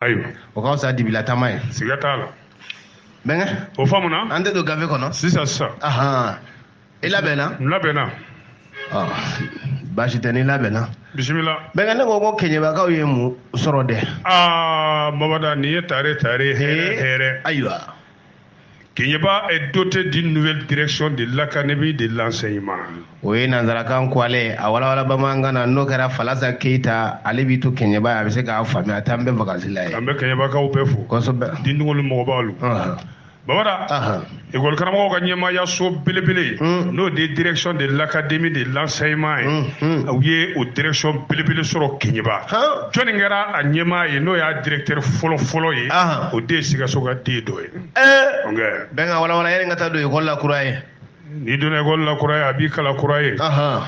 ayiwa o ka fisa dibila taama ye siga t'a la bɛnkɛ o faamuna an tɛ don gafe kɔnɔ sisan sisan ahan i labɛnna n labɛnna ɔ baasi tɛ n'i labɛnna bisimila bɛnkɛ ne ko ko keɲebakaw ye mun sɔrɔ dɛ aa bamada nin ye tare tare hɛrɛ hɛrɛ ayiwa Keɲeba est doté d'une nouvelle direction de l'académie de l'enseignement. O ye nanzarakan ko ale a walawala bamanankan na n'o kɛra Falasa Keyita ale b'i to Keɲeba a bɛ se k'a faamuya a t'an bɛɛ vakansi la yen. An bɛ Keɲebakaw bɛɛ fo. Kosɛbɛ. Dindingolu mɔgɔbaw lu. Bamada, école karamɔgɔw ka ɲɛmaayaso belebele hmm. n'o de ye direction de l'académie de l'enseignement ye u ye o direction belebele sɔrɔ Keɲeba. jɔnni kɛra a ɲɛmaa ye n'o y'a directeur fɔlɔ fɔlɔ ye o de sikaso ka den dɔ ye bɛnkɛ walawala yanni n ka taa don ekɔli la kura ye n'i donna ekɔli la kura ye a b'i kalan kura ye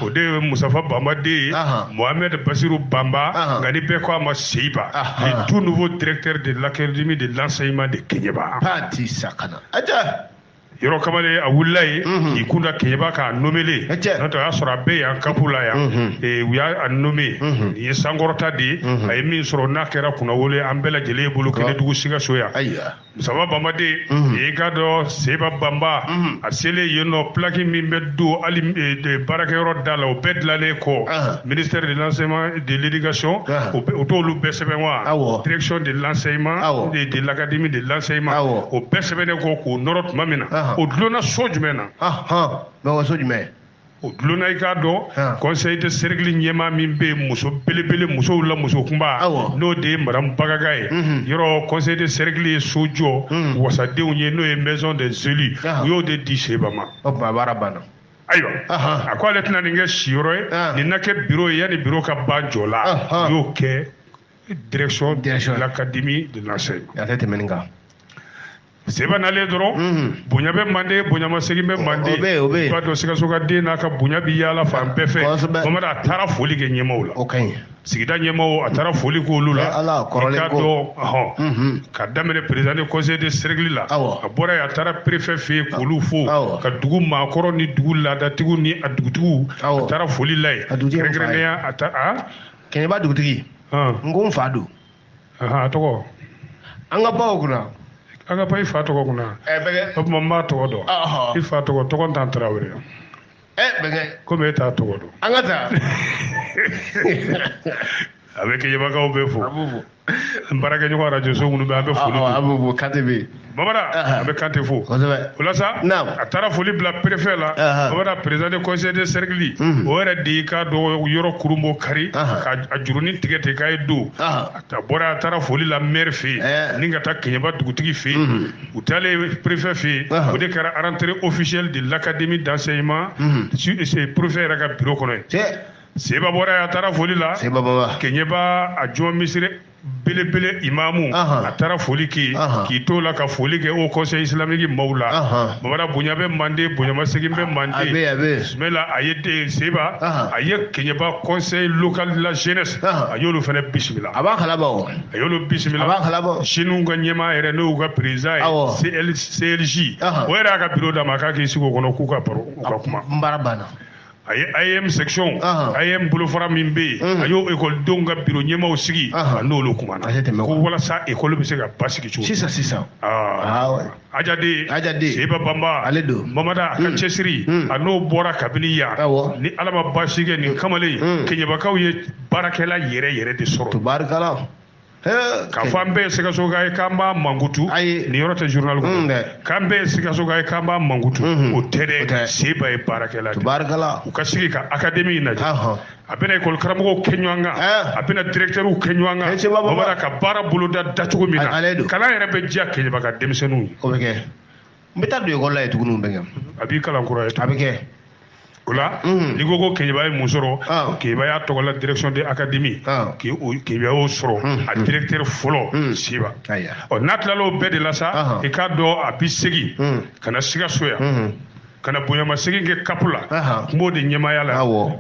o de ye musafa banba den ye mohamɛd basiru banba nka ni bɛɛ ko a ma seyiba le tout nouveau directeur de l'académie de l'enseignement de keɲeba yɔrɔ kamalen a wulila ye mhm. k'i kunda keɲeba k'a nomele n'o tɛ o y'a sɔrɔ a bɛ yan kapu la yan mhm. eh, u y'a nome mhm. nin ye sankɔrɔta de ye a ye min sɔrɔ n'a kɛra kunnawolo ye an bɛɛ lajɛlen ye bolo kelen dugu sikaso yan musaba banba den i k'a dɔn seba banba a selen yen nɔ pilaki min bɛ don hali eh, baarakɛyɔrɔ da la o bɛɛ dilalen kɔ ah. ministère de l'enseignement de l'éducation ah. o t'olu bɛɛ sɛbɛn wa ah, direction de l'enseignement de l'académie de l'enseignement o bɛɛ sɛbɛnnen kɔ k'o nɔrɔ tuma min na o dulonna so jumɛn na mɛ so jumɛn o dulonna i k'a dɔn conseil de cercle ɲɛmaa min bɛ muso belebele musow la muso kunba n'o de ye madamu bagaga ye mhm. yɔrɔ conseil de cercle ye so jɔ mhm. wasadenw ye n'o ye maison des élus u y'o de di seba ma o tuma baara banna ayiwa a ko ale tɛna nin kɛ siyɔrɔ ye ah. nin na kɛ biro ye yanni biro ka ban jɔ la u y'o kɛ direction de l'académie de l'enseigne a tɛ tɛmɛ nin kan seba nalen dɔrɔn mhm. bonya bɛ manden bonyamasegin bɛ manden i b'a dɔn sikaso ka den n'a ka bonya bɛ yaala fan bɛɛ fɛ bamada a taara foli kɛ ɲɛmaaw la sigida ɲɛmaaw a taara foli k'olu la i k'a dɔn ɔhɔn ka daminɛ président de conseil de cercle la a bɔra yen a taara préfet fɛ yen k'olu fo ka dugu maakɔrɔ ni dugu laadatigiw ni a dugutigiw a taara foli la yen kɛrɛnkɛrɛnnenya a ta a keɲeba dugutigi n ko n fa don a tɔgɔ an ka baw kunna an ka ba i fa tɔgɔ kunna o tuma n b'a tɔgɔ dɔn i fa tɔgɔ tɔgɔntan tarawele ɛ bɛnkɛ komi e t'a tɔgɔ dɔn an ka taa a bɛ kɛɲɛbakaw bɛɛ fo n baarakɛɲɔgɔn arajo so minnu bɛ an bɛ foli a bɛ fo kante bɛ yen bamada a bɛ kante fo o la sa a taara foli bila préfet la bamada président du conseil de cercle o yɛrɛ de y'i k'a dɔn yɔrɔ kurunbonkari ka a jurunin tigɛ ten k'a ye don a bɔra a taara foli la mɛri fɛ yen ni ka taa kɛɲɛba dugutigi fɛ yen u taalen préfet fɛ yen Ahan. o de kɛra rentrée officielle de l'académie d'enseignement Mhm. su- se- préfet yɛrɛ ka bureau kɔnɔ yen cɛ seba bɔra yen a taara foli la seba baba keɲɛba a juma misiri belebele imamu Ahan. a taara foli kɛ yen Ahan. k'i t'o la ka foli kɛ haut conseil islamique maaw la Ahan. bamada bonya bɛ mande bonyamasegin bɛ a bɛ mande a bɛ bisimila a ye den seba Ahan. a ye keɲɛba conseil local de la jeunesse a y'olu fana bisimila a b'a kalama o a y'olu bisimila a b'a kalama jeunes ka ɲɛmaa yɛrɛ n'o y'u ka président ye CLJ o yɛrɛ y'a ka biro d'a ma k'a k'i sigi o kɔnɔ k'u ka baro u ka kuma n baara banna a ye AEEM section AEEM bolofara min bɛ yen a y'o ekɔlidenw ka biro ɲɛmaaw sigi a n'olu kumana ko walasa ekɔli bɛ se ka basigi cogo sisan sisan A jaati, a jaati, Seba Bamba, ale don Bamada a ka mm. cɛsiri mm. a n'o bɔra kabini yan ni Ala ma baasi kɛ nin mm. kamalen mm. Keɲɛbakaw ye baarakɛla yɛrɛ yɛrɛ de sɔrɔ tubaarikala k'a fɔ an bɛɛ ye sikasoka ye k'an b'a mankutu nin yɔrɔ tɛ journal kɔnɔ mm, k'an bɛɛ ye sikasoka ye k'an b'a mankutu mm-hmm. o tɛ dɛ seba ye baarakɛla de u ka sigi ka académie in lajɛ a bɛna école karamɔgɔw kɛ ɲɔgɔn kan eh. a bɛna directeurs kɛ ɲɔgɔn kan eh, o b'a ka baara boloda da cogo min na kalan yɛrɛ bɛ diya kɛɲɛba ka denmisɛnninw ye o bɛ kɛ n bɛ taa don école la yen tuguni o bɛ kɛ a b'i kalan kura ye a bɛ kɛ o la mm. n'i ko ko kɛɲɛba ye mun sɔrɔ ah. kɛɲɛba y'a tɔgɔ la direction de académie ah. kɛɲɛba y'o sɔrɔ mm. a directeur fɔlɔ mm. seba ɔ n'a tilala o bɛɛ de la sa i k'a dɔn a bɛ segin ka na sikaso yan ka na bonyamasegin kɛ CAP la a tun b'o de ɲɛmaaya la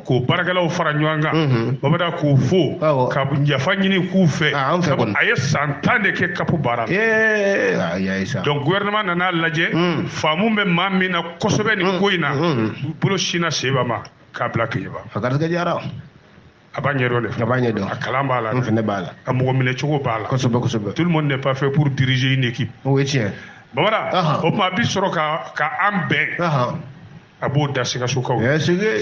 k'o baarakɛlaw fara ɲɔgɔn kan mhm. bamada k'u fo ka yafa ɲini k'u fɛ ah, a ye san tan de kɛ CAP baara la ah, donc gouvernement nan'a lajɛ mm. faamu bɛ maa min na kosɛbɛ nin mm. ko in na mm. bolo sinna seba ma k'a bila kɛɲɛba a garisɛgɛ diyara a b'a ɲɛdɔn de a b'a ɲɛdɔn a kalan b'a la n fɛnɛ b'a la a mɔgɔ minɛ cogo b'a la kosɛbɛ kosɛbɛ tout le monde n'est pas fait pour diriger une équipe o ye tiɲɛ bamada o tuma a bi sɔrɔ ka ka an bɛn a b'o da sikasokaw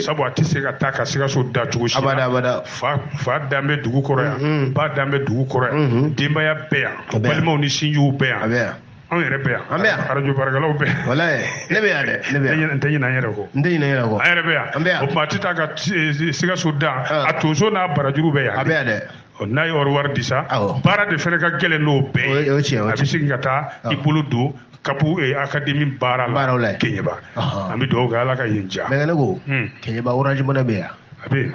sabu a tɛ se ka taa ka sikaso da cogo si la fa fa dan bɛ dugu kɔrɔ yan ba dan bɛ dugu kɔrɔ yan denbaya bɛ yan balimaw ni sinjiw bɛ yan anw yɛrɛ bɛ yan an bɛ yan radio baarakɛlaw bɛ yan walayi ne bɛ yan dɛ ne bɛ yan n tɛ ɲinɛ an yɛrɛ kɔ n tɛ ɲinɛ n yɛrɛ kɔ an yɛrɛ bɛ yan an bɛ yan o tuma a tɛ taa ka sikaso dan ah. a tonso n'a barajuru bɛ yan a bɛ yan dɛ n'a ye wari di sa baara de fana ka gɛlɛn n'o bɛɛ ye a bɛ segin ka taa ah. i bolo don kapu eh, académie baara la keɲeba an bɛ dugawu kɛ ala ka yen diya bɛnkɛ ne ko hmm. keɲeba orange money bɛ yan a bɛ yen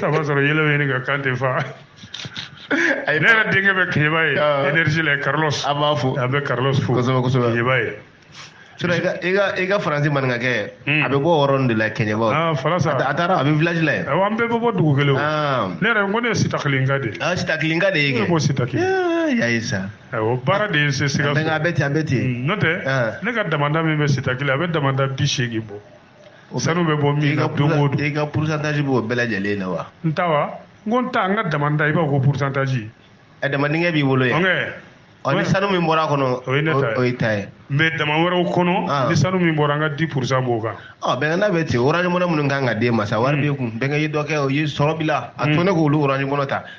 saba sɔrɔ yɛlɛ bɛ ɲini ka kan tɛ fa ne yɛrɛ denkɛ bɛ keɲeba yen ah. energie la carlos a b'a fo a bɛ carlos fo kosɛbɛ kosɛbɛ keɲeba yen sura i ka i ka i ka faransi maninkakɛ hmm. a bɛ bɔ yɔrɔ nin de la kɛɲɛba ah, faransa a taara a bɛ village la yen awɔ an bɛɛ bɛ bɔ dugu kelen o ah. ne yɛrɛ n ko ne ye sitakilenka de ye ah, sitakilenka de ye kɛ ne ko sitakile y'a ye sa awɔ baara de ye n se sikaso a bɛ ten a bɛ ten hmm, n'o tɛ ne ka damanda min bɛ sitakile a bɛ damanda bi seegin bɔ O bɛ- sanu bɛ bɔ min i na ka don o pourcent- don i ka pourcentage b'o bɛɛ lajɛlen na wa n ta wa n ko n ta n ka damanda i b'a fɔ ko pourcentage ɛ dama dingɛ b'i bolo yen ɔnkɛ ɔ ni sanu min bɔra a kɔnɔ O ye ne ta ye. o y'i ta ye mais dama wɛrɛw Ah. kɔnɔ ni sanu min bɔra an ka dix pourcent b'o kan ɔ bɛnkan bɛ ten orange money minnu kan ka d'e ma sa wari b'i kun bɛnkɛ ye dɔ kɛ o ye sɔrɔ b'i la a to ne k'olu orange money ta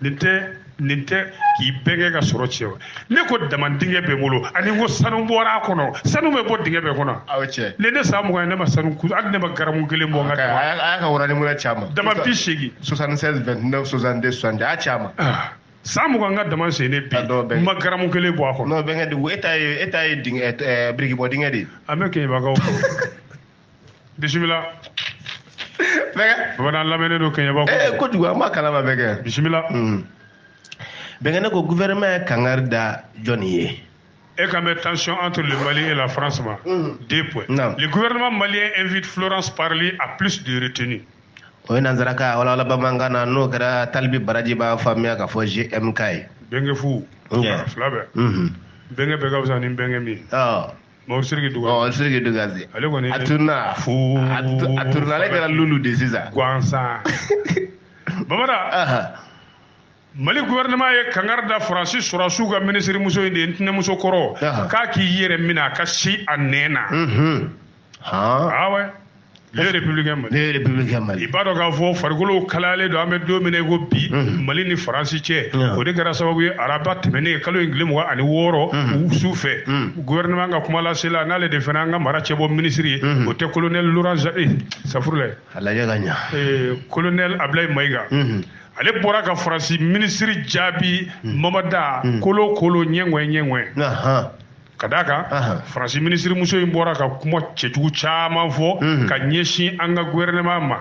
nin tɛ nin tɛ k'i bɛnkɛ ka sɔrɔ tiɲɛ wa ne ko dama dingɛ bɛ n bolo ani ko sanu bɔra a kɔnɔ sanu bɛ bɔ dingɛ bɛɛ kɔnɔ aw cɛ ne ne san mugan ne ma sanu ku hali ne ma garamu kelen bɔ n ka dama a y'a ka orange money caman dama bi seegin 76 29 62 60 a y'a caman ah, san mugan n ka dama sen ne bi n ma garamu kelen bɔ a kɔnɔ non bɛnkɛ dugu e ta ye e ta ye dingɛ birikibɔ dingɛ de ye an bɛ kɛɲɛbakaw bisimila bɛnkɛ bamanan lamɛnnen don kɛɲɛba ee kojugu an b'a kalama bɛnkɛ bisimila hmm. bɛnkɛ ne ko gouvernement ye kangari da jɔni ye et quand même tension entre le Mali et la France. Mm. Deux points. Non. Le gouvernement malien invite Florence Parly à plus de retenue. o ye nanzarakan walawala bamanankan na n'o kɛra talibi baraji b'a faamuya k'a fɔ gmk ye bɛnkɛ fu fila bɛɛ bɛnkɛ bɛɛ ka fisa ni bɛnkɛ min ye Bon siriki dugu ɔ siriki dugu ase ale kɔni a tununna fo a tununna ale kɛra lulu de sisan gansan bamada mali gouvernement ye kangari da faransi sɔrɔsiw ka ministre muso in de ye n tɛnɛmuso kɔrɔ k'a k'i yɛrɛ minɛ a ka si a nɛn na awa Le républicain Mali. Le républicain Mali. I b'a dɔn k'a fɔ farikolo kalayalen don an bɛ don min na i ko bi. Mhm. Mali ni Faransi cɛ. Mhm. O de kɛra sababu ye araba tɛmɛnen kalo in tile mugan ani wɔɔrɔ. Mhm. Su fɛ. Gouvernement ka kumalasela n'ale de fana an ka mara cɛbɔ ministre ye. O tɛ colonel Laurent Jacques eh, safurulayi. A lajɛ ka ɲa. Eh, colonel Ablaye Mayiga. ale bɔra ka Faransi ministre jaabi Mamada kolo kolo ɲɛŋɛ ɲɛŋɛ. ka d'a kan faransi minisirimuso in bɔra ka kuma cɛjugu caman fɔ mhm. ka ɲɛsin an ka gouvernement ma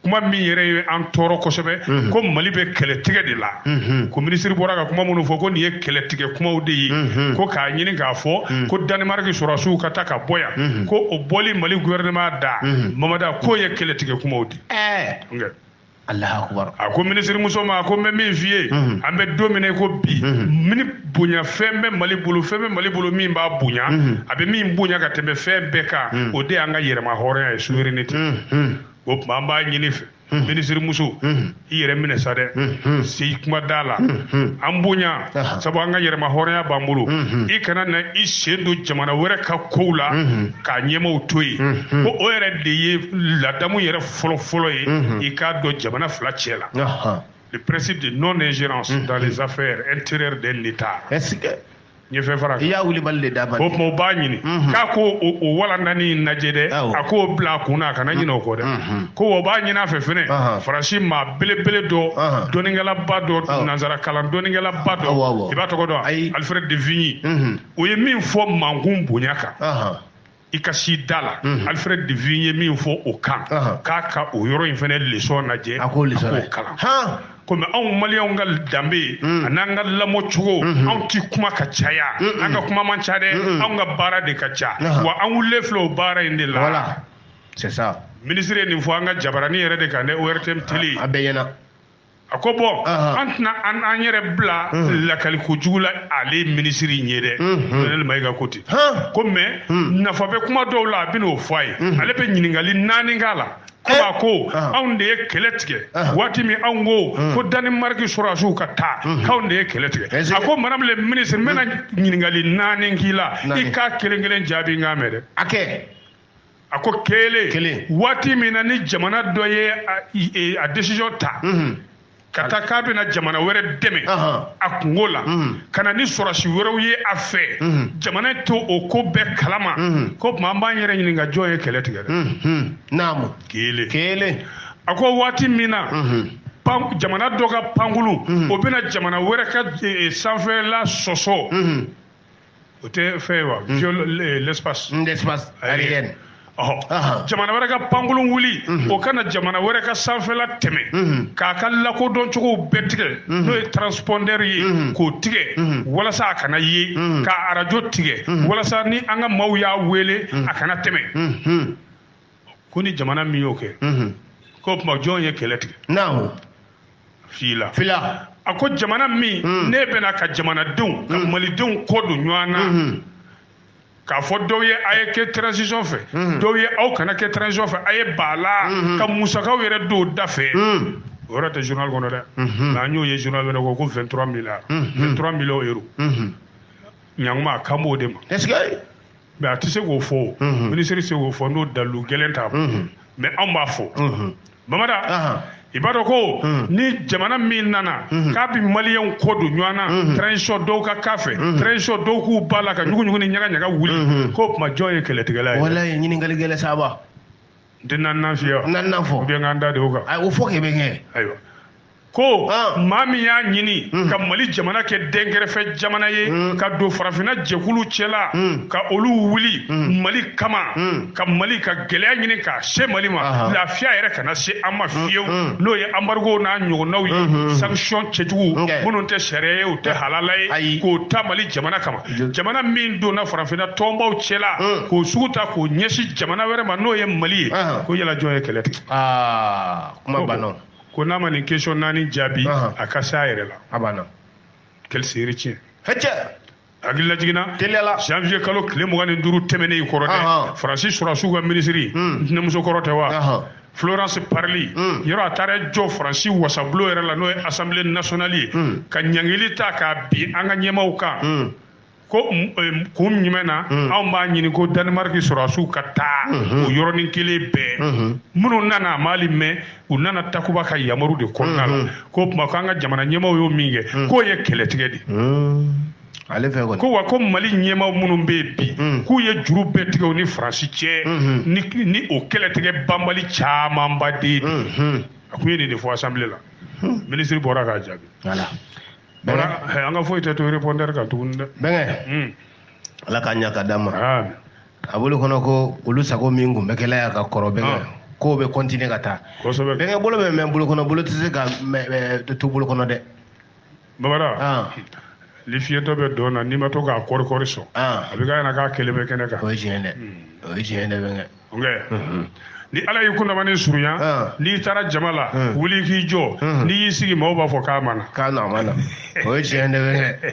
kuma min yɛrɛ ye an tɔɔrɔ kosɛbɛ mhm. ko mali bɛ kɛlɛtigɛ de la mhm. ko minisiri bɔra ka kuma minnu fɔ ko nin ye kɛlɛtigɛ kumaw de ye ko k'a ɲini k'a fɔ ko danimariki sɔrɔsiw ka taa ka bɔ yan ko o bɔli mali gouvernement da mamada k'o ye kɛlɛtigɛ kumaw de a ko minisirimuso ma a ko n bɛ min f'i ye mhm. an bɛ don min na i ko bi mhm. mini bonya fɛn bɛ mali bolo fɛn bɛ mali bolo min b'a bonya mhm. a bɛ min bonya ka tɛmɛ fɛn bɛɛ kan o de y'an ka yɛrɛma hɔrɔnya ye souveraineté o tuma an b'a ɲini i fɛ minisirimuso i yɛrɛ minɛ sa dɛ si kuma da la an bonya sabu an ka yɛrɛma hɔrɔnya b'an bolo i kana na i sen don jamana wɛrɛ ka kow la k'a ɲɛmaaw to yen ko o yɛrɛ de ye ladamu yɛrɛ fɔlɔ fɔlɔ ye mhm. i k'a dɔn jamana fila cɛ la le principe de non ingérence mhm. dans les affaires intérieures d'un État n ye fɛn fara i y'a wulibali de d'a ma o tuma o b'a ɲini mhm. k'a ko o walanda nin lajɛ dɛ a k'o bila a kun na a kana ɲinɛ o kɔ dɛ ko o b'a ɲini a fɛ fɛnɛ faransi maa belebele dɔ dɔnnikɛlaba dɔ nanzara kalan dɔnnikɛlaba dɔ i b'a tɔgɔ dɔn alfred de vigny o ye min fɔ mankun bonya kan i ka si da la mhm. alfred de vigny ye min fɔ o kan k'a ka o yɔrɔ in fana lesɔn lajɛ a k'o kalan komi anw maliyɛnw ka danbe mm. an'an ka lamɔ cogo mm-hmm. anw ti kuma ka caya an ka kuma man ca dɛ anw ka baara de ka ca wa an wulilen filɛ o baara in de la minisiri ye nin fɔ an ka jabarani yɛrɛ de kan dɛ ortm tele a bɛɛ ɲɛna a ko bon an tɛna an an yɛrɛ bila lakali ko jugu la ale minisiri in ye dɛ colonel maïga ko ten ko mɛ nafa bɛ kuma dɔw la a bɛn'o fɔ a ye ale bɛ ɲininkali naani k'a la ko a ko anw de ye kɛlɛ tigɛ waati min anw ko ko danimariki sɔrɔsiw ka taa k'anw de ye kɛlɛ tigɛ a ko madame le ministre n bɛna ɲininkali naani k'i la i k'a kelen kelen jaabi n k'a mɛn dɛ a kɛ a ko kelen kelen waati min na ni jamana dɔ ye e, a decision ta mhm. ka taa k'a bɛna jamana wɛrɛ dɛmɛ a kungo la mhm. ka na ni sɔrɔsi wɛrɛw ye a fɛ mhm. jamana t'o ko bɛɛ kalama ko o tuma an b'an yɛrɛ ɲininka jɔn ye kɛlɛ tigɛ dɛ naamu kelen kelen a ko waati min na jamana dɔ ka pankulu o bɛna jamana wɛrɛ ka e, e, sanfɛla sɔsɔ o tɛ fɛn ye wa hmm. violer l'espace hmm, l'espace aérienne jamana wɛrɛ ka pankulu wuli hmm. o ka na jamana wɛrɛ ka sanfɛla tɛmɛ k'a ka lakodɔn cogow bɛɛ tigɛ n'o ye transpondeur ye k'o tigɛ walasa a kana ye ka arajo tigɛ walasa ni an ka maaw y'a wele a kana tɛmɛ ko ni jamana min y'o kɛ k'o tuma jɔn ye kɛlɛ tigɛ naamu fila fila a ko jamana min hmm. ne bɛna ka jamanadenw ka hmm. malidenw kɔ don ɲɔgɔn na hmm. k'a fɔ dɔw ye a ye kɛ transition fɛ dɔw ye aw kana kɛ transition fɛ a ye ban a la ka musakaw yɛrɛ don da fɛ o yɔrɔ tɛ journal kɔnɔ dɛ nka an y'o ye journal wɛrɛ kɔnɔ ko 23 milliards 23 millions euro ɲanguma kan b'o de ma mais a tɛ se k'o fɔ minisiri tɛ se k'o fɔ n'o dalu gɛlɛn t'a bolo mais anw b'a fɔ bamada i b'a dɔn ko ni jamana min nana k'a bɛ maliyɛnw kɔ don ɲɔgɔn na transition dɔw ka k'a fɛ transition dɔw k'u ban a la ka ɲugu ɲugu ni ɲaga ɲaga wuli k'o tuma jɔn ye kɛlɛtigɛla ye walayi ɲininkali gɛlɛn saba n tɛ naaninan f'i ye wa naaninan fɔ ou bien k'an da de o kan ayi o fɔ kɛ bɛnkɛ ayiwa ko ah. maa min y'a ɲini hmm. ka mali jamana kɛ dɛnkɛrɛfɛ jamana ye hmm. ka don farafinna jɛkulu cɛla hmm. ka olu wuli mali kama ka mali ka gɛlɛya ɲini k'a se mali ma lafiya yɛrɛ kana se an ma fiyewu n'o ye embargo n'a ɲɔgɔnnaw ye sanction cɛjugu minnu tɛ sariya ye u tɛ halala ye k'o ta mali jamana kama jamana min donna farafinna tɔnbaw cɛla hmm. k'o sugu ta k'o ɲɛsin jamana wɛrɛ ma n'o ye mali ye ko yala jɔn ye kɛlɛ tigɛ ah, kuma banna ko n'a ma nin question naani jaabi a ka se a yɛrɛ la a banna quelle série tiɲɛ hɛcɛ hakili lajiginna teliya la janvier kalo tile mugan ni duuru tɛmɛnen kɔrɔ dɛ faransi sɔrɔsiw ka minisiri hmm. n tɛnɛmuso kɔrɔ tɛ wa Florence Parly mm. yɔrɔ a taara jɔ Faransi wasabulo yɛrɛ la n'o ye Assemblée nationale ye mm. ka ɲangili ta k'a bin an ka ɲɛmaaw kan mm. ko eh, kun jumɛn na mm. anw b'a ɲini ko Danemark sɔrɔdasiw ka taa mm -hmm. o yɔrɔnin kelen bɛɛ mm -hmm. minnu nana a m'ali mɛn u nana takuba ka yamaru de kɔnɔna la mm-hmm. k'o tuma ko an ka jamana ɲɛmaaw y'o min kɛ mm. k'o ye kɛlɛtigɛ de mm. ale fɛ kɔni ko wa ko mali ɲɛmaaw minnu bɛ yen bi hmm. k'u ye juru bɛɛ tigɛ u ni faransi cɛ hmm. ni ni o kɛlɛtigɛ banbali camanba de ye hmm. a kun ye nin de fɔ assemblée la minisiri bɔra k'a jaabi voilà an ka foyi tɛ to répondeur kan tuguni dɛ bɛnkɛ ala k'a ɲa ka d'a ma a bolo kɔnɔ ko olu sago min kun bɛ kɛ la yan ka kɔrɔ bɛnkɛ k'o bɛ continuer ka taa bɛnkɛ bolo bɛ mɛn bolo kɔnɔ bolo tɛ se ka to bolo kɔnɔ dɛ Bamada ah. ni fiyentɔ bɛ dɔn na n'i ma to k'a kɔrikɔri sɔn ah. a bɛ k'a ɲɛna k'a kelen bɛ kɛnɛ kan o ye tiɲɛ dɛ hmm. o ye tiɲɛ dɛ bɛnkɛ mhm. ni ala y'i kundamani surunya ah. n'i taara jama la hmm. wuli k'i jɔ hmm. n'i y'i sigi maaw b'a fɔ k'a ma na k'a na ma na o ye tiɲɛ dɛ bɛnkɛ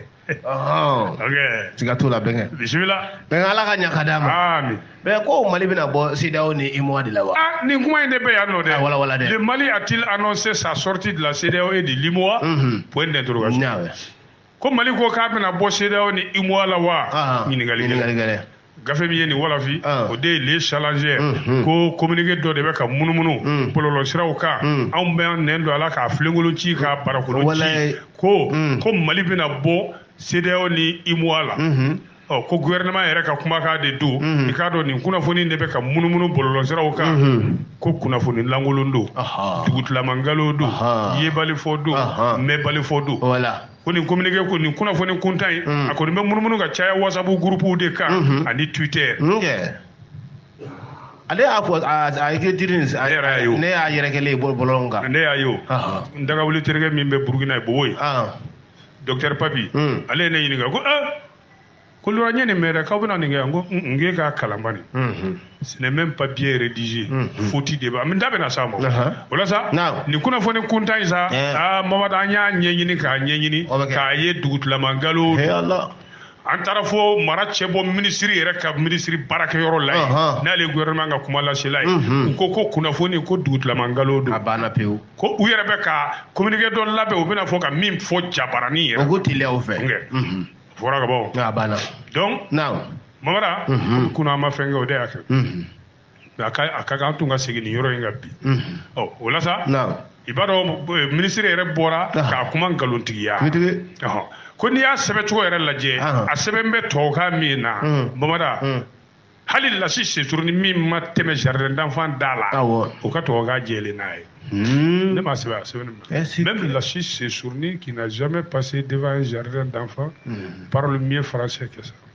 siga t'o la bɛnkɛ bisimila bɛnkɛ ala k'a ɲa ka d'a ma amin mɛ ko mali bɛna bɔ CEDEAO ni UEMOA de la wa? Ah, nin kuma in de bɛ yan nɔ dɛ. A ah, wala wala dɛ. Le Mali a-t-il annoncé sa sortie de la CEDEAO et de l'UEMOA? Mhm. Point d'interrogation. Naamu. Ko Mali ko k'a bɛna bɔ CEDEAO ni UEMOA la wa? Ah, Ɲininkali gɛlɛn. Ɲininkali gɛlɛn. gafe min ye nin walafi o de ye le challenger mhm. ko communiqué dɔ de bɛ ka munumunu mhm. bɔlɔlɔsiraw kan mhm. anw bɛ an nɛn don a la k'a filenkolo ci k'a barakolo ci ko ko mali bɛna bɔ CEDEAO ni UEMOA la ɔ ko gouvernement yɛrɛ ka kumakan de don i k'a dɔn nin kunnafoni de bɛ ka munumunu bɔlɔlɔsiraw kan ko kunnafoni lankolon don dugutilamankalon don yebalifɔ don mɛnbalifɔ don voilà ko nin communiqué ko nin kunnafoni kuntan in a kɔni bɛ munumunu ka caya whatsapp groupe de kan ani twitter ale y'a fɔ a ye diri nin ne yɛrɛ y'a ye ne y'a yɛrɛkɛlen bɔlɔlɔ kan ne y'a ye n dagawuli terikɛ min bɛ burukina yen bobo yen docteur papi hmm. ale ye ne ɲininka ko ah ko lora n ye nin mɛn dɛ k'aw bɛna nin kɛ n ko n k'e k'a kalan bani hmm. ce n'est même pas bien rédigé hmm. faute de b'a n da bɛna s'a ma o la sa nin kunnafoni kuntan in sa eh. aa ah, mamadu an y'a ɲɛɲini k'a ɲɛɲini k'a ye dugutilamankalon an taara fo mara cɛbɔ minisiri yɛrɛ ka minisiri baarakɛyɔrɔ la yen n'ale ye gouvernement ka kumalasela ye mhm. u ko ko kunnafoni ko dugutilamankalon don a banna pewu ko u yɛrɛ bɛ ka communiqué dɔ labɛn u bɛna fɔ ka min fɔ jabaranin yɛrɛ o ko teliya u fɛ mhm. fɔra ka bɔ a banna donc mamara mhm. kunun an ma fɛn kɛ o de y'a kɛ a ka a ka kan an tun ka segin nin yɔrɔ in kan bi ɔ o la sa i b'a dɔn eh, minisiri yɛrɛ bɔra k'a kuma nkalontigiya ko n'i y'a sɛbɛncogo yɛrɛ lajɛ a sɛbɛnnen bɛ tubabukan min na bamada hali lasi sesuruni min ma tɛmɛ jardin d'enfant da la o ka tubabukan jɛlen n'a ye hmm. ne m'a sɛbɛn a sɛbɛnnen même lasi sesuruni qui n'a jamais passé devant un jardin d'enfant hmm. parle mieux français que ça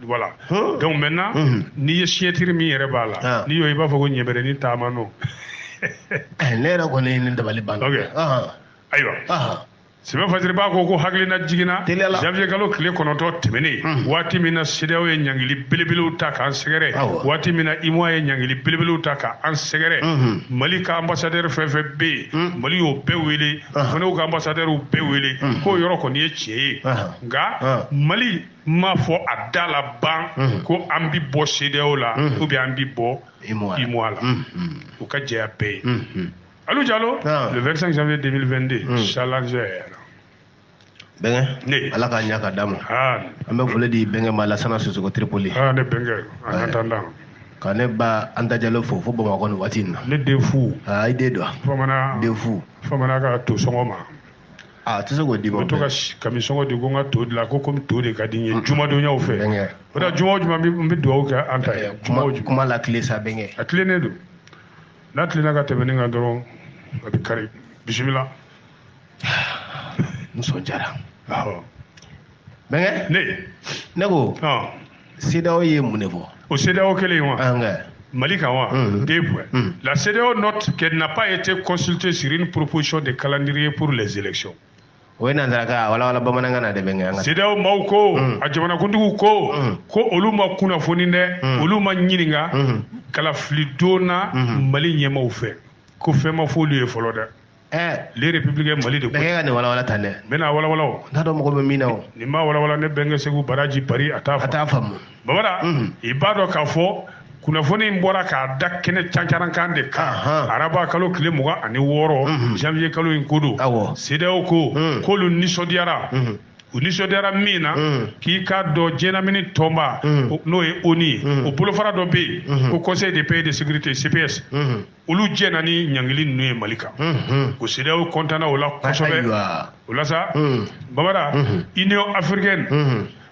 Voilà donc maintenant n'i ye signature min yɛrɛ b'a la n'i y'o i b'a fɔ ko ɲɛbɛrɛnin taama nɔ ne yɛrɛ kɔni ne dabali banna ayiwa sɛbɛn fasiri b'a ko ko hakilinajigin na janvier kalo tile kɔnɔntɔn tɛmɛnen waati min na CEDEAO ye ɲangili belebelew ta k'an sɛgɛrɛ waati min na UEMOA ye ɲangili belebelew ta k'an sɛgɛrɛ mali ka ambassadeur fɛn fɛn bɛ yen mali y'o bɛɛ wele u fana ka ambassadeurw bɛɛ wele k'o yɔrɔ kɔni ye tiɲɛ ye nka mali m'a fɔ a da la ban mhm. ko an bi bɔ CEDEAO la mhm. ou bien an bi bɔ UEMOA la mhm. o ka jɛya bɛɛ ye alu jalo ah. le 25 janvier 2022 challenger bɛnkɛ ne ala k'a ɲa ka d'an ma ah. an bɛ foli di bɛnkɛ ma lasana sisoko tripoli ah, ne bɛnkɛ en attendant ka ne ba anta jalo fo fo bamakɔ nin waati in na ne den fu i den don bamanan den fu bamanan ka to sɔngɔ ma a tɛ se k'o d'i ma. o bɛ to ka kami sɔngɔ di ko n ka to dilan ko komi to de ka di n ye jumadonyaw fɛ. bɛnkɛ o la juma o juma n bɛ dugawu kɛ an ta ye. juma o juma kuma latilen sa bɛnkɛ. a tilennen don n'a tilenna ka tɛmɛ nin kan dɔrɔn a bɛ kari bisimila. nisɔndiyara. awɔ. bɛnkɛ ne ne ko CEDEAO ye mun de fɔ o CEDEAO kelen ye wa Mali kan wa deux points la CEDEAO note qu'elle n'a pas été consultée sur une proposition de calendrier pour les élections o ye nansarakan a walawala bamanankan na dɛ bɛnkɛ CEDEAO maaw ko mm. a jamanakuntigiw ko mm. ko olu ma kunnafoni dɛ mm. olu ma ɲininka kalafilidon na Mali ɲɛmaaw fɛ ko fɛn ma f'olu ye fɔlɔ dɛ le Républicain mali de ko bɛnkɛ ka nin walawala tan dɛ n bɛna walawala o n t'a dɔn mɔgɔ bɛ min na o nin ma walawala ne bɛnkɛ segu baraji bari a t'a a t'a faamu babara i b'a dɔn k'a fɔ kunnafoni in bɔra k'a da kɛnɛ cancarankan de kan Ahan. araba kalo tile mugan ani wɔɔrɔ janvier kalo in ko don Awɔ. CEDEAO ko k'olu nisɔndiyara u nisɔndiyara min na k'i k'a dɔn diɲɛlamini tɔnba o- n'o ye ONU ye o bolofara dɔ bɛ yen ko conseil de paix et de sécurité cps olu jɛnna ni ɲangili ninnu ye mali kan ko CEDEAO kɔntanna o la kosɛbɛ o la sa babara union africaine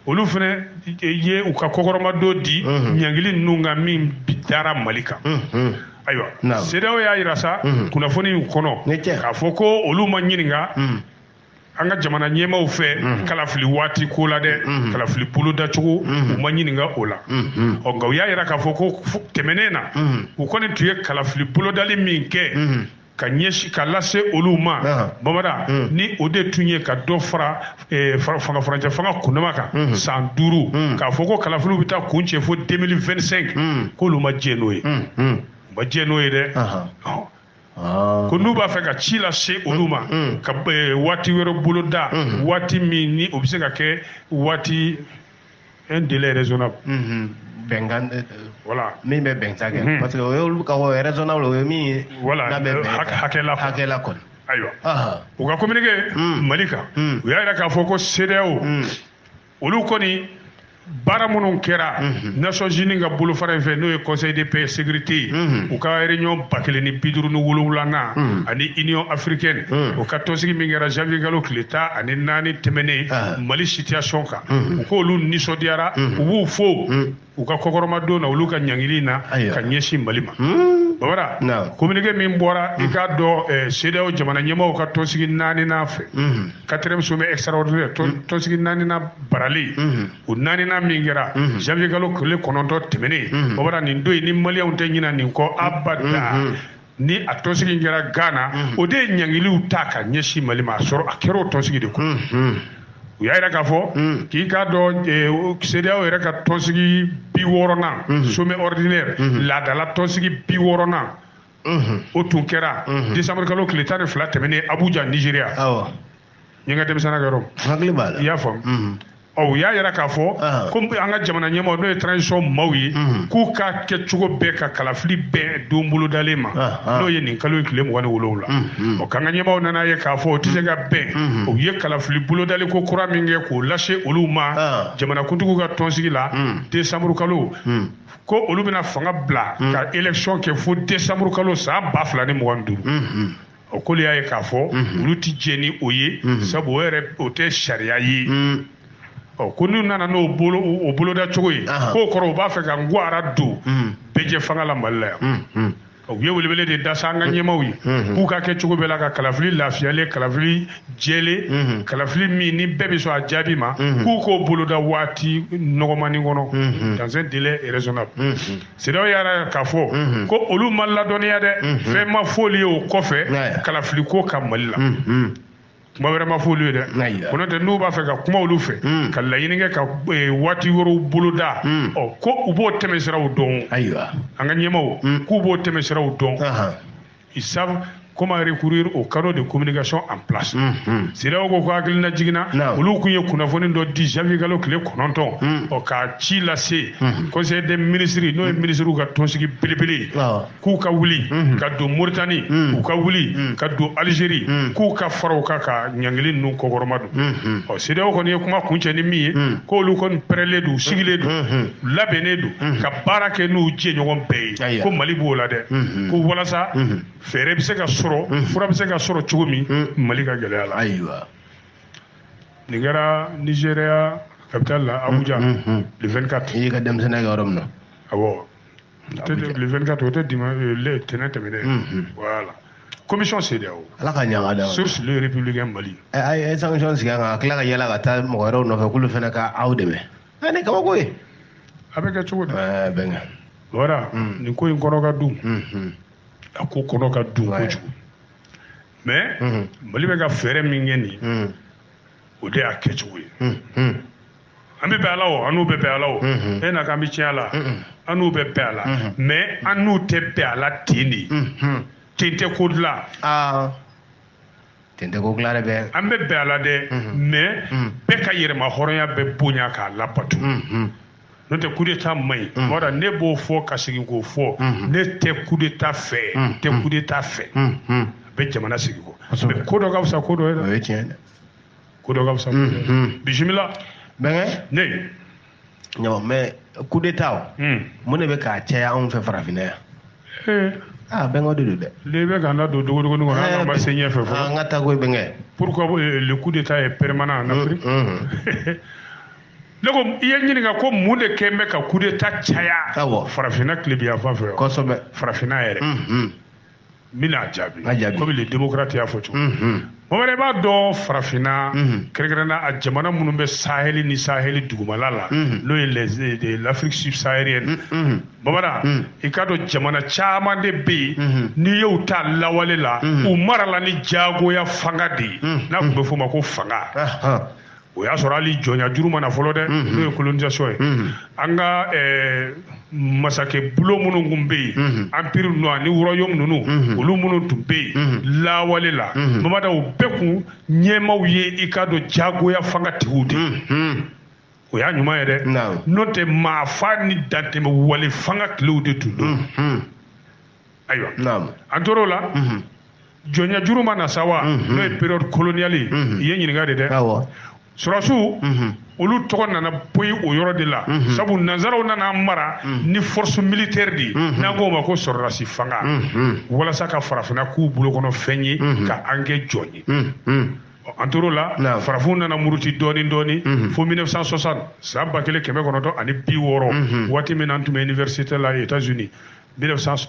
olu fana ye u ka kɔkɔrɔmadon di ɲangili ninnu kan min dara mali kan ayiwa CEDEAO y'a yira sa kunnafoni kɔnɔ k'a fɔ ko olu ma ɲininka an ka jamana ɲɛmaaw fɛ mhm. kalafili waati ko la dɛ mhm. kalafili bolodacogo mhm. u ma ɲininka o la ɔ nka u y'a yira k'a fɔ ko tɛmɛnen na u kɔni tun ye kalafili bolodali min kɛ ka ɲɛsi ka lase olu ma babara ni o de tun ye ka dɔ fara e, fanga furancɛ fanga kundama kan san duuru k'a fɔ ko kalafiliw bɛ taa kuncɛ fo 2025 k'olu ma jɛn n'o ye u ma jɛn n'o ye dɛ Ah. ko n'u b'a fɛ ka ci lase olu ma mm, mm. ka eh, waati wɛrɛ boloda mm-hmm. waati min ni o bɛ se ka kɛ waati un délai raisonnable mm-hmm. bɛnkan eh, voilà min bɛ bɛnkan kɛ mm-hmm. parce que o y'olu ka o raisonnable o ye min ye voilà euh, hakɛla hakɛla kɔni ayiwa u ka communiqué mm. mali kan u y'a jira k'a fɔ ko CEDEAO olu kɔni baara minnu kɛra mhm. nations unies ka bolofara in fɛ n'o ye conseil de paix sécurité ye mhm. u ka réunion ba kelen ni bi duuru ni wolonwulanan mhm. ani union africaine o ka tɔnsigi min kɛra janvier kalo tile tan ani naani tɛmɛnen ah. mali situation kan u k'olu nisɔndiyara u b'u fo u ka kɔkɔrɔmadon na olu ka ɲangili na ka ɲɛsin mali ma hmm? babara communiqué min bɔra i hmm. k'a dɔn eh, CEDEAO jamana ɲɛmaaw ka tɔnsigi naaninan fɛ hmm. quatrième sommet extraordinaire tɔnsigi naaninan baralen o naaninan min kɛra janvier kalo tile kɔnɔntɔn tɛmɛnen babara nin don in ni maliyɛnw tɛ ɲina nin kɔ abada ni a tɔnsigi kɛra Ghana mhm. o de ye ɲangiliw ta ka ɲɛsin Mali ma a sɔrɔ a kɛra o tɔnsigi de kɔnɔ mhm. u y'a yira k'a fɔ mhm. k'i k'a dɔn CEDEAO yɛrɛ ka tɔnsigi bi wɔɔrɔnan sommet ordinaire laadala tɔnsigi bi wɔɔrɔnan o tun kɛra décembre kalo tile tan ni fila tɛmɛnen Abuja Nigeria n ye n ka denmisɛnninya kɛ yɔrɔ min. hakili b'a la. i y'a faamu. Mhm. ɔ u y'a yira k'a fɔ. Ah. ko an ka jamana ɲɛmaw n'o ye transition maaw ye. Mhm. k'u k'a kɛ cogo bɛɛ ka kalafili bɛn don bolodalen ma. Ah, ah. n'o ye nin kalo in tile mugan ni wolonwula. Mhm. ɔ k'an ka ɲɛmaw nana ye k'a fɔ o tɛ se ka bɛn. u ye kalafili bolodali ko kura min kɛ k'o lase olu ma. jamanakuntigiw ka tɔnsigi la. décembre kalo. ko olu bɛna fanga bila. ka élection kɛ fo décembre kalo san ba fila ni mugan ni duuru. o k'olu y'a ye k'a fɔ mhm. olu tɛ jɛ ni o ye mhm. sabu o yɛrɛ o tɛ sariya ye mhm. ɔ ko n'u nana n'o bolo o boloda cogo ye k'o kɔrɔ u b'a fɛ ka ngaran don bɛɛjɛfanga la mali la yan u ye welewele de da sa an ka ɲɛmaw ye k'u ka kɛ cogo bɛɛ la ka kalafili lafiyalen kalafili jɛlen kalafili min ni bɛɛ bɛ sɔn a jaabi ma k'u k'o boloda waati nɔgɔmani kɔnɔ dans un délai raisonnable CEDEAO y'a yira k'a fɔ mhm. ko olu ma ladɔnniya dɛ mhm. fɛn ma f'olu ye o kɔfɛ kalafili ko kan mali la mhm. kuma wɛrɛ ma f'olu ye dɛ ko n'o tɛ n'u b'a fɛ ka kuma olu fɛ ka laɲini kɛ ka e, waati wɛrɛw boloda ɔ ko u b'o tɛmɛsiraw dɔn ayiwa an ka ɲɛmaw k'u b'o tɛmɛsiraw dɔn ils savent comment recourir aux canaux de communication en place CEDEAO ko ko hakilinajigin na olu kun ye kunnafoni dɔ di janvier kalo tile kɔnɔntɔn ɔ ka ci lase conseil des ministres n'o ye ministres ka tɔnsigi belebele k'u ka wuli ka don mauritanie u ka wuli ka don algérie k'u ka fara u kan ka ɲangili ninnu kɔkɔrɔmadon ɔ CEDEAO kɔni ye kuma kuncɛ ni min ye k'olu kɔni pɛrɛlen don u sigilen don labɛnnen don mhm. ka baara kɛ n'u jɛɲɔgɔn bɛɛ ye ko mali b'o la dɛ mhm. ko walasa mhm. fɛɛrɛ bɛ se ka sɔrɔ fura bɛ se ka sɔrɔ cogo min mali ka gɛlɛya la ayiwa nin kɛra nigeria capitale la abuja le 24 i y'i ka denmisɛnninya kɛ yɔrɔ min na awɔ le 24 o tɛ dimanche euh, le tɛnɛn tɛmɛnen voilà commission CEDEAO ala ka ɲa ka d'a ma source le républicain mali ɛ a ye sanction sigi an kan ka tila ka yaala ka taa mɔgɔ wɛrɛw nɔfɛ k'olu fana ka aw dɛmɛ ɛ ni kabako ye a bɛ kɛ cogo di ɛɛ bɛnkɛ voilà mm. nin ko in kɔnɔ ka dun mm-hmm. a ko kɔnɔ ka dun kojugu mais mm-hmm. mali bɛ ka fɛɛrɛ min kɛ nin mm. o de y'a kɛcogo ye mm-hmm. an bɛ bɛn a la o an n'u bɛ bɛn a la o e na k'an bɛ tiɲɛ a la an n'u bɛ bɛn a la mais an n'u tɛ bɛn a la ten de ten tɛ ko dilan ah. ten tɛ ko dila dɛ bɛɛ an bɛ bɛn a la dɛ mais bɛɛ ka yɛrɛma hɔrɔnya bɛ bonya k'a labato n'o tɛ coup d'état man ɲi voilà ne b'o fɔ ka segin k'o fɔ ne tɛ coup d'état fɛ n tɛ coup d'état fɛ a bɛ jamana segin kɔ mais ko dɔ ka fisa ko dɔ ye dɛ ko dɔ ka fisa ko dɔ ye bisimila bɛnkɛ ne ɲama mais coup d'état o hmm. mun de bɛ k'a caya anw fɛ farafinna yan eh. aa ah, bɛnkɛ de don dɛ e le bɛ k'an da don dogodogoni kɔnɔ an ma se ɲɛfɛ fɔlɔ ah, an ka taa koyi bɛnkɛ pourquoi euh, le coup d'état est permanent en Afrique hmm, hmm. ne ko i ye n ɲininka ko mun de kɛ bɛ ka coup d'état caya farafinna tilebinyanfan fɛ kosɛbɛ farafinna yɛrɛ n bɛn'a jaabi komi le démocrate y'a fɔ cogo mhm. bamanan i b'a dɔn farafinna mhm. kɛrɛnkɛrɛnna a jamana minnu bɛ saheli ni saheli dugumala la mhm. n'o ye l'Afrique subsaharienne bamanan i k'a dɔn jamana caman de bɛ yen n'i y'u ta lawale la u marala ni jagoya fanga de ye n'a tun bɛ f'o ma ko fanga o y'a sɔrɔ hali jɔnya juru ma na fɔlɔ dɛ n'o ye colonisation ye an ka masakɛ bulon minnu tun bɛ yen empire ninnu ani royaume ninnu olu minnu tun bɛ yen lawale la bamanan u bɛɛ kun ɲɛmaaw ye i k'a dɔn jagoya fanga tigiw de o y'a ɲuman ye dɛ n'o tɛ maa faa ni dantɛmɛ wale fanga tilew de tun don ayiwa an tor'o la jɔnya juru ma na sa wa n'o ye période coloniale ye i ye n ɲininka de dɛ sɔrɔdasiw olu tɔgɔ nana poyi o yɔrɔ de la sabu nansaraw nan'an mara ni force militaire de ye n'an k'o ma ko sɔrɔdasi fanga walasa ka farafinna k'u bolo kɔnɔ fɛn ye ka an kɛ jɔn ye an tor'o la farafinw nana muruti dɔɔni dɔɔni fo 1960 san ba kelen kɛmɛ kɔnɔntɔn ani bi wɔɔrɔ waati min na an tun bɛ université la États-Unis 1900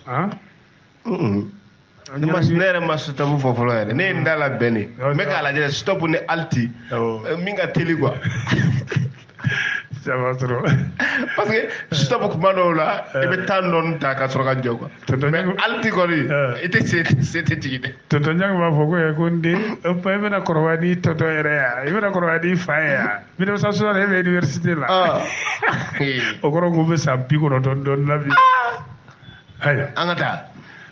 ne ma ne yɛrɛ ma stop fɔ fɔlɔ yɛrɛ ne ye n da labɛn de n bɛ k'a lajɛ stop ni halte euh, min ka teli quoi ça va trop parce que stop kuma dɔw la i bɛ temps dɔɔni ta ka sɔrɔ ka jɔ quoi mais halte kɔni i tɛ se sen tɛ jigin dɛ tonton ɲangi b'a fɔ ko ko n den i bɛna kɔrɔbaya n'i tonton yɛrɛ ya i bɛna kɔrɔbaya n'i fa ye yan 1960 e bɛ université la ah. o kɔrɔ ko i bɛ san bi kɔnɔntɔn dɔ la bi ah. ayiwa an ka taa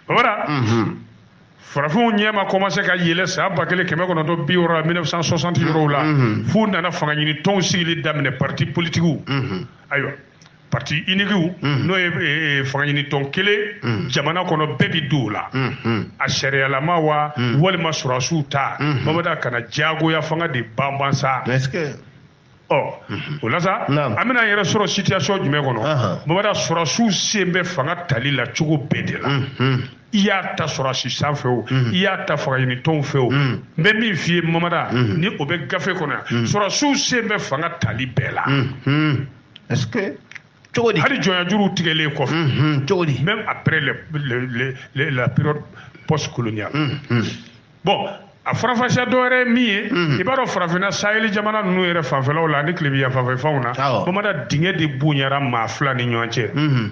o mhm. farafinw ɲɛ ma commencé ka yɛlɛ san ba kelen kɛmɛ kɔnɔntɔn bi wɔɔrɔ la 1960 yɔrɔw la mhm. f'u nana fanga ɲini tɔnw sigili daminɛ partis politiques mhm. ayiwa parti uniquew mm. n'o ye e, e, fangaɲini tɔn kelen mm. jamana kɔnɔ bɛɛ bi don o la mm, mm. a sariyalama wa mm. walima sɔrɔdasiw ta mm -hmm. mamada ka na diyagoya fanga de banban sa ɔ mm-hmm. o la sa an bɛna an yɛrɛ sɔrɔ situation jumɛn kɔnɔ mamada sɔrɔdasiw sen bɛ fanga tali la cogo bɛɛ de la mm-hmm. i y'a ta sɔrɔdasi san fɛ o mm. i y'a ta fangaɲinitɔnw fɛ o mm. n bɛ min f'i ye mamada mm. ni o bɛ gafe kɔnɔ yan sɔrɔdasiw sen bɛ fanga tali bɛɛ la est-ce que cogo di hali jɔnyajuruw tigɛlen kɔfɛ mm-hmm. cogo di même après le, le, le, le, la période post coloniale mm-hmm. bon a faranfasiya dɔ wɛrɛ ye min ye mm-hmm. i b'a dɔn farafinna saheli jamana ninnu yɛrɛ fanfɛlaw la ani tilebinyanfan fɛ fanw na mamada dingɛ de bonyara maa fila ni ɲɔgɔn cɛ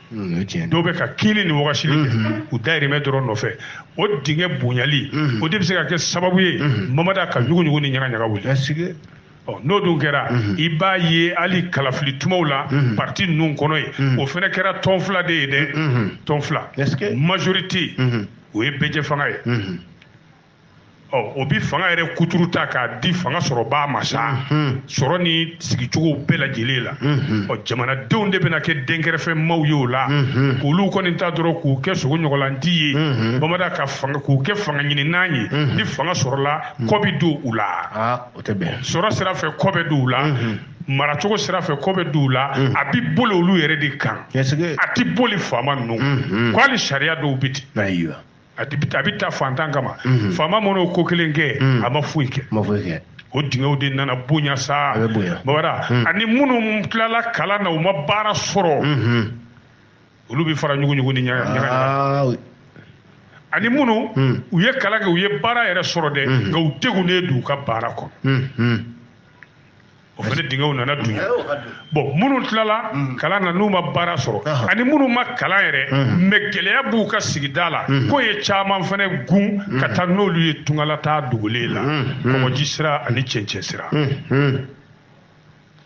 Mm, dɔw bɛ ka kinni ni wagasili kɛ mm-hmm. u dayirimɛ dɔrɔn nɔfɛ o dingɛ bonyali mm-hmm. o de bɛ se ka kɛ sababu ye mm-hmm. mamada ka ɲuguɲugu ni ɲagaɲaga wuli n'o dun kɛra i b'a ye hali kalafili tumaw la parti ninnu kɔnɔ ye o fana kɛra tɔn fila de ye dɛ tɔn fila majorité o ye bɛɛjɛ fanga ye o bɛ fanga yɛrɛ kuturu ta k'a di fanga sɔrɔbaa ma sa sɔrɔ ni sigicogo bɛɛ lajɛlen la ɔ jamanadenw de bɛna kɛ denkɛrɛfɛ maaw ye o la k'olu kɔni ta dɔrɔn k'u kɛ sogo ɲɔgɔnlanti ye mamada k'u kɛ fanga ɲininan ye ni fanga sɔrɔla kɔ bɛ don u la sɔrɔ sira fɛ kɔ bɛ don u la maracogo sira fɛ kɔ bɛ don u la a bɛ boli olu yɛrɛ de kan a tɛ boli faama ninnu kan hali sariya dɔw bɛ ten a bɛ ta fantan kama mhm. faama man'o ko kelen kɛ mhm. a ma foyi kɛ o dingɛw de nana bonya sa mamada mhm. ani minnu tilala kalan na u ma baara sɔrɔ olu bɛ fara ɲuguɲugu ni ɲaga ani minnu u ye kalan kɛ u ye baara yɛrɛ sɔrɔ dɛ nka u degunnen don u ka baara kɔnɔ o fana dingɛw nana dunya bon minnu tilala kalan na n'u ma baara sɔrɔ ani minnu ma kalan yɛrɛ mais gɛlɛya b'u ka sigida la k'o ye caman fana gɛn ka taa n'olu ye tungalataa dogolen la kɔgɔji sira ani cɛncɛn sira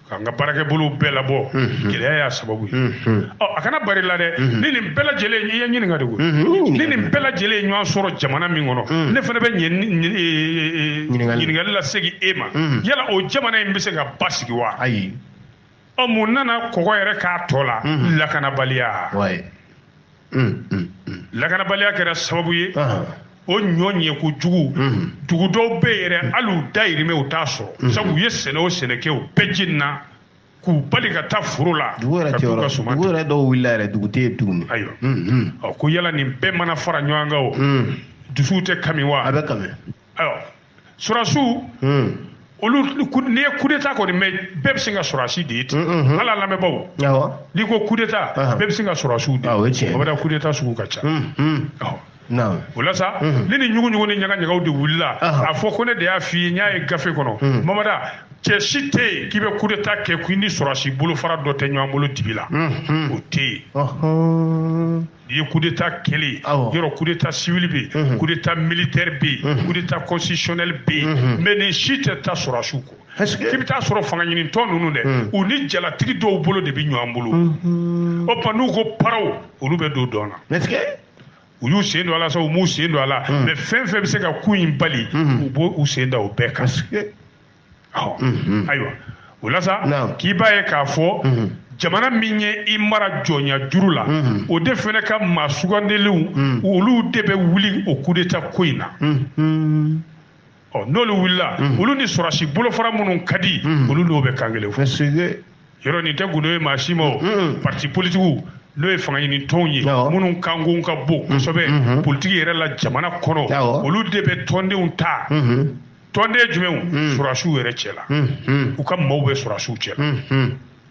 k'an ka baarakɛbolo bɛɛ labɔ gɛlɛya y'a sababu ye ɔ a kana bar'i la dɛ ni nin bɛɛ lajɛlen i ye ɲininka de koyi ni nin bɛɛ lajɛlen ye ɲɔgɔn sɔrɔ jamana min kɔnɔ ne fana bɛ ɲininkali lasegin e ma mhm. yala o jamana in bɛ se ka basigi wa ayi ɔ mun nana kɔgɔ yɛrɛ k'a tɔ la mhm. lakanabaliya mm, mm, mm. lakanabaliya kɛra sababu ye o ɲɔ ɲɛko jugu dugu dɔw bɛ yen yɛrɛ hali u dayirimɛ u t'a sɔrɔ sabu u ye sɛnɛ o sɛnɛ kɛ o bɛɛ jenina k'u bali ka taa foro la dugu yɛrɛ tɛ yɔrɔ dugu yɛrɛ dɔw wulila yɛrɛ dugu tɛ yen tuguni ayiwa ɔ ko yala nin bɛɛ mana fara ɲɔgɔn kan o dusuw tɛ kami wa a bɛ kami Alors, sɔrɔsiw olu n'i ye coup d'état kɔni mɛn bɛɛ bɛ sin ka sɔrɔsi de ye ten hali a lamɛnbaaw n'i ko coup d'état bɛɛ bɛ sin ka sɔrɔsiw de ye mamada coup d'état sugu ka ca o la sa ni nin ɲuguɲugu ni ɲagaɲagaw de wulila a fɔ ko ne de y'a f'i ye n y'a ye gafe kɔnɔ mamada cɛ si tɛ yen k'i bɛ coup d'état kɛ ko i ni sɔrɔsi bolofara dɔ tɛ ɲɔgɔn bolo dibi la o tɛ yen i ye kudeta kɛlen yɔrɔ kudeta siwili bɛ yen kudeta militɛri bɛ yen kudeta constitutionnel bɛ yen mɛ nin si tɛ taa sɔrɔsiw kɔ k'i bɛ t'a sɔrɔ fanga ɲinitɔn ninnu dɛ u ni jalatigi dɔw bolo de bɛ ɲɔgɔn bolo o tuma n'u ko paraw olu bɛ don dɔn na u y'u sen don a la sa u m'u sen don a la mɛ fɛn fɛn bɛ se ka ko in bali u b'u sen da o bɛɛ kan mhm. ayiwa o la sa k'i b'a ye k'a fɔ mhm. jamana min ye i mara jɔnya juru la mhm. o de fana ka maa sugandilenw olu de bɛ wuli o kudeta ko in na ɔ n'olu wulila olu ni sɔrɔsi bolofara minnu ka di olu n'o bɛ kan kelen fɔ yɔrɔ nin tɛ gundo ye maa si ma o parti politigiw n'o ye fanga ɲini tɔnw ye minnu kanko ka bon kosɛbɛ politigi yɛrɛ la jamana kɔnɔ olu de bɛ tɔndenw ta tɔnden jumɛnw hmm. sɔrɔsiw yɛrɛ cɛ la hmm, hmm. u ka maaw bɛ sɔrɔsiw cɛ la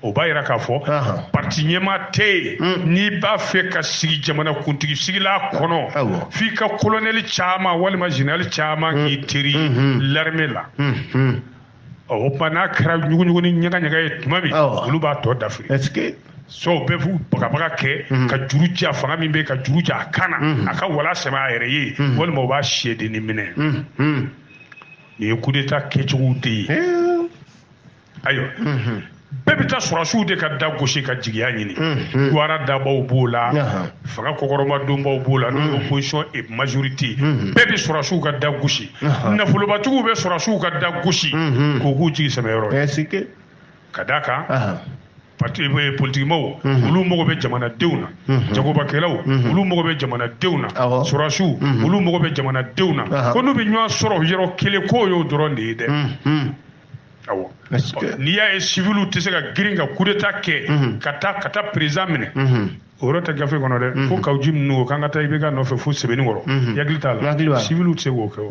o b'a yira k'a fɔ parti ɲɛmaa tɛ yen n'i b'a fɛ ka sigi jamana kuntigi sigila kɔnɔ f'i ka kolonɛli caman walima zenerali caman k'i teri larime la o tuma n'a kɛra ɲuguɲugu ni ɲagaɲaga ye tuma min olu b'a tɔ dafiri sɔw bɛɛ b'u bagabaga kɛ mhm. ka juru ja fanga min bɛ ka juru ja a kan na mhm. a ka wala sɛmɛ a yɛrɛ ye mhm. walima u b'a siyɛdennin minɛ nin ye kudeta kɛcogow de ye ayiwa bɛɛ bɛ taa sɔrɔsiw de ka da gosi ka jigiya ɲini duwara dabaw b'o la fanga kɔkɔrɔmadonbaw b'o la n'o ye opposition et majorité bɛɛ bɛ sɔrɔsiw ka da gosi nafolobatigiw bɛ sɔrɔsiw ka da gosi k'o k'u jigi sɛmɛ yɔrɔ ye ka d' a kan eh, politikimaaw mhm. olu mago bɛ jamanadenw na mhm. jagobakɛlaw mhm. olu mago bɛ jamanadenw na sɔrɔsiw olu mago bɛ jamanadenw na ko n'u bɛ ɲɔgɔn sɔrɔ yɔrɔ kelen k'o y'o dɔrɔn de ye dɛ awɔ n'i y'a ye siviliw tɛ se ka girin ka kudeta kɛ ka taa ka taa perezidan minɛ o yɔrɔ tɛ gafe kɔnɔ dɛ fo Kawu Jim ninnu ko k'an ka taa IBK nɔfɛ fo Sebenikɔrɔ i hakili t'a la siviliw tɛ se k'o kɛ o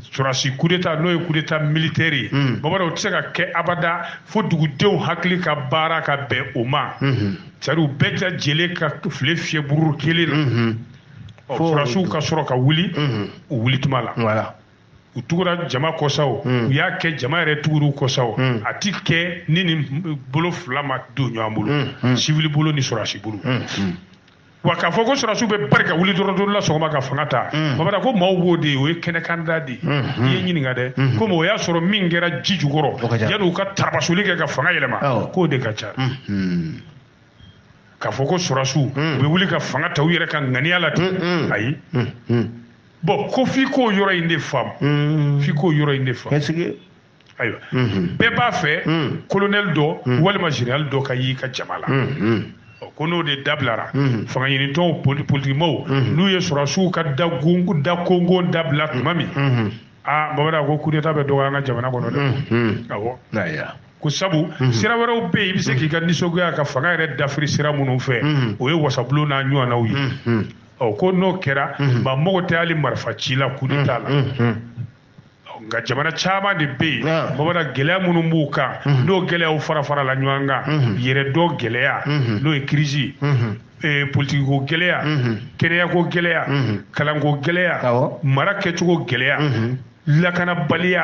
sɔrɔsi kudeta n'o ye kudeta militɛri ye hmm. mamada o tɛ se ka kɛ abada fo dugudenw hakili ka baara ka bɛn o ma hmm. c'est-à-dire u bɛɛ lajɛlen ka file fiyɛ buru kelen na hmm. sɔrɔsiw ka sɔrɔ ka wuli u wuli tuma la u tugura jama kɔ sa o u y'a kɛ jama yɛrɛ tugur'u kɔ sa o a ti kɛ ni nin bolo fila ma don ɲɔgɔn bolo sivili bolo ni sɔrɔsi bolo wa k'a fɔ ko sɔrɔsiw bɛ bari ka wuli dɔrɔn don dɔ la sɔgɔma ka fanga ta mm. babada ko maaw b'o de ye o ye kɛnɛkanda de ye mm-hmm. i ye ɲininka dɛ mm-hmm. komi o y'a sɔrɔ min kɛra ji jukɔrɔ yanni u ka tarabasoli kɛ ka fanga yɛlɛma k'o de ka ca mm-hmm. k'a fɔ ko sɔrɔsiw mm. u bɛ wuli ka fanga ta u yɛrɛ ka ŋaniya la ten ayi bɔn ko f'i k'o yɔrɔ in de faamu f'i k'o yɔrɔ in de faamu ayiwa bɛɛ b'a fɛ colonel dɔ walima général dɔ ka y'i ka jama la ko n'o de dabilara fanga ɲinitɔnw politikimaw n'u ye sɔrɔsiw ka da konkon dabila tuma min aa babada ko kudeta bɛ dɔgɔya an ka jamana kɔnɔ dɛ awɔ ko sabu sira wɛrɛw bɛ yen i bɛ se k'i ka nisɔngoya ka fanga yɛrɛ dafiri sira minnu fɛ o ye wasabulon n'a ɲɔgɔnnaw ye ko n'o kɛra maa mago tɛ hali marifa ci la kudeta la nka jamana caman de bɛ yen babada gɛlɛya minnu b'u kan n'o gɛlɛyaw farafarala ɲɔgɔn kan yɛrɛdɔn gɛlɛya n'o ye kirisi politikiko gɛlɛya kɛnɛyako gɛlɛya kalanko gɛlɛya mara kɛcogo gɛlɛya lakanabaliya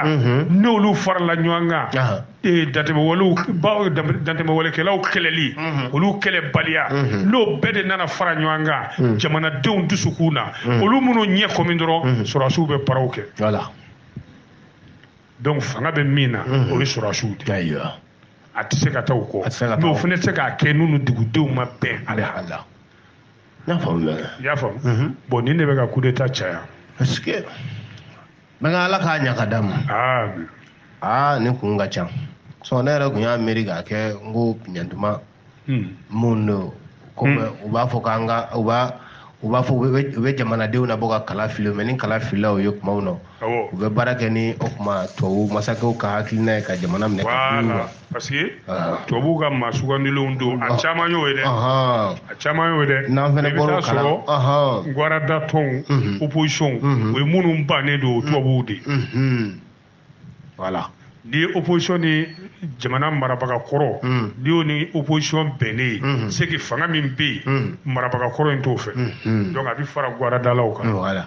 n'olu farala ɲɔgɔn kan dantɛmɛwalekɛlaw kɛlɛli olu kɛlɛbaliya n'o bɛɛ de nana fara ɲɔgɔn kan jamanadenw dusukun na olu man'u ɲɛ kɔmi dɔrɔn sɔrɔdasiw bɛ baaraw kɛ donc fanga bɛ min na o ye sɔrɔdasiw de ye a tɛ se ka taa o kɔ mais o fana tɛ se k'a kɛ n'u ni dugudenw ma bɛn a la i y'a faamu bon nin de bɛ ka coup d'état caya n bɛ ka ala k'a ɲa ka d'a ma aa ne kun ka ca sɔn ne yɛrɛ kun y'a miiri k'a kɛ n ko ɲantuma mun don ko u b'a fɔ k'an ka u b'a u b'a fɔ u bɛ jamanadenw na bɔ ka kala fili mais ni kala filila u ye kumaw na u bɛ baara kɛ ni o kuma tubabu masakɛw ka hakilina ye ka jamana minɛ parce que ah. tubabuw ka maa sugandilenw don a ah. caman y'o ye dɛ a caman y'o ye dɛ n'an fɛnɛ bɔra o kala ma sɔrɔ guarada tɔnw mhm. opposition mhm. o ye minnu bannen don mhm. tubabuw de voilà n'i ye opposition ni jamana marabaga kɔrɔ mm. n'i y'o ni opposition bɛnnen ye c'est que fanga min bɛ yen marabaga kɔrɔ in t'o fɛ donc a bɛ fara guaradalaw kan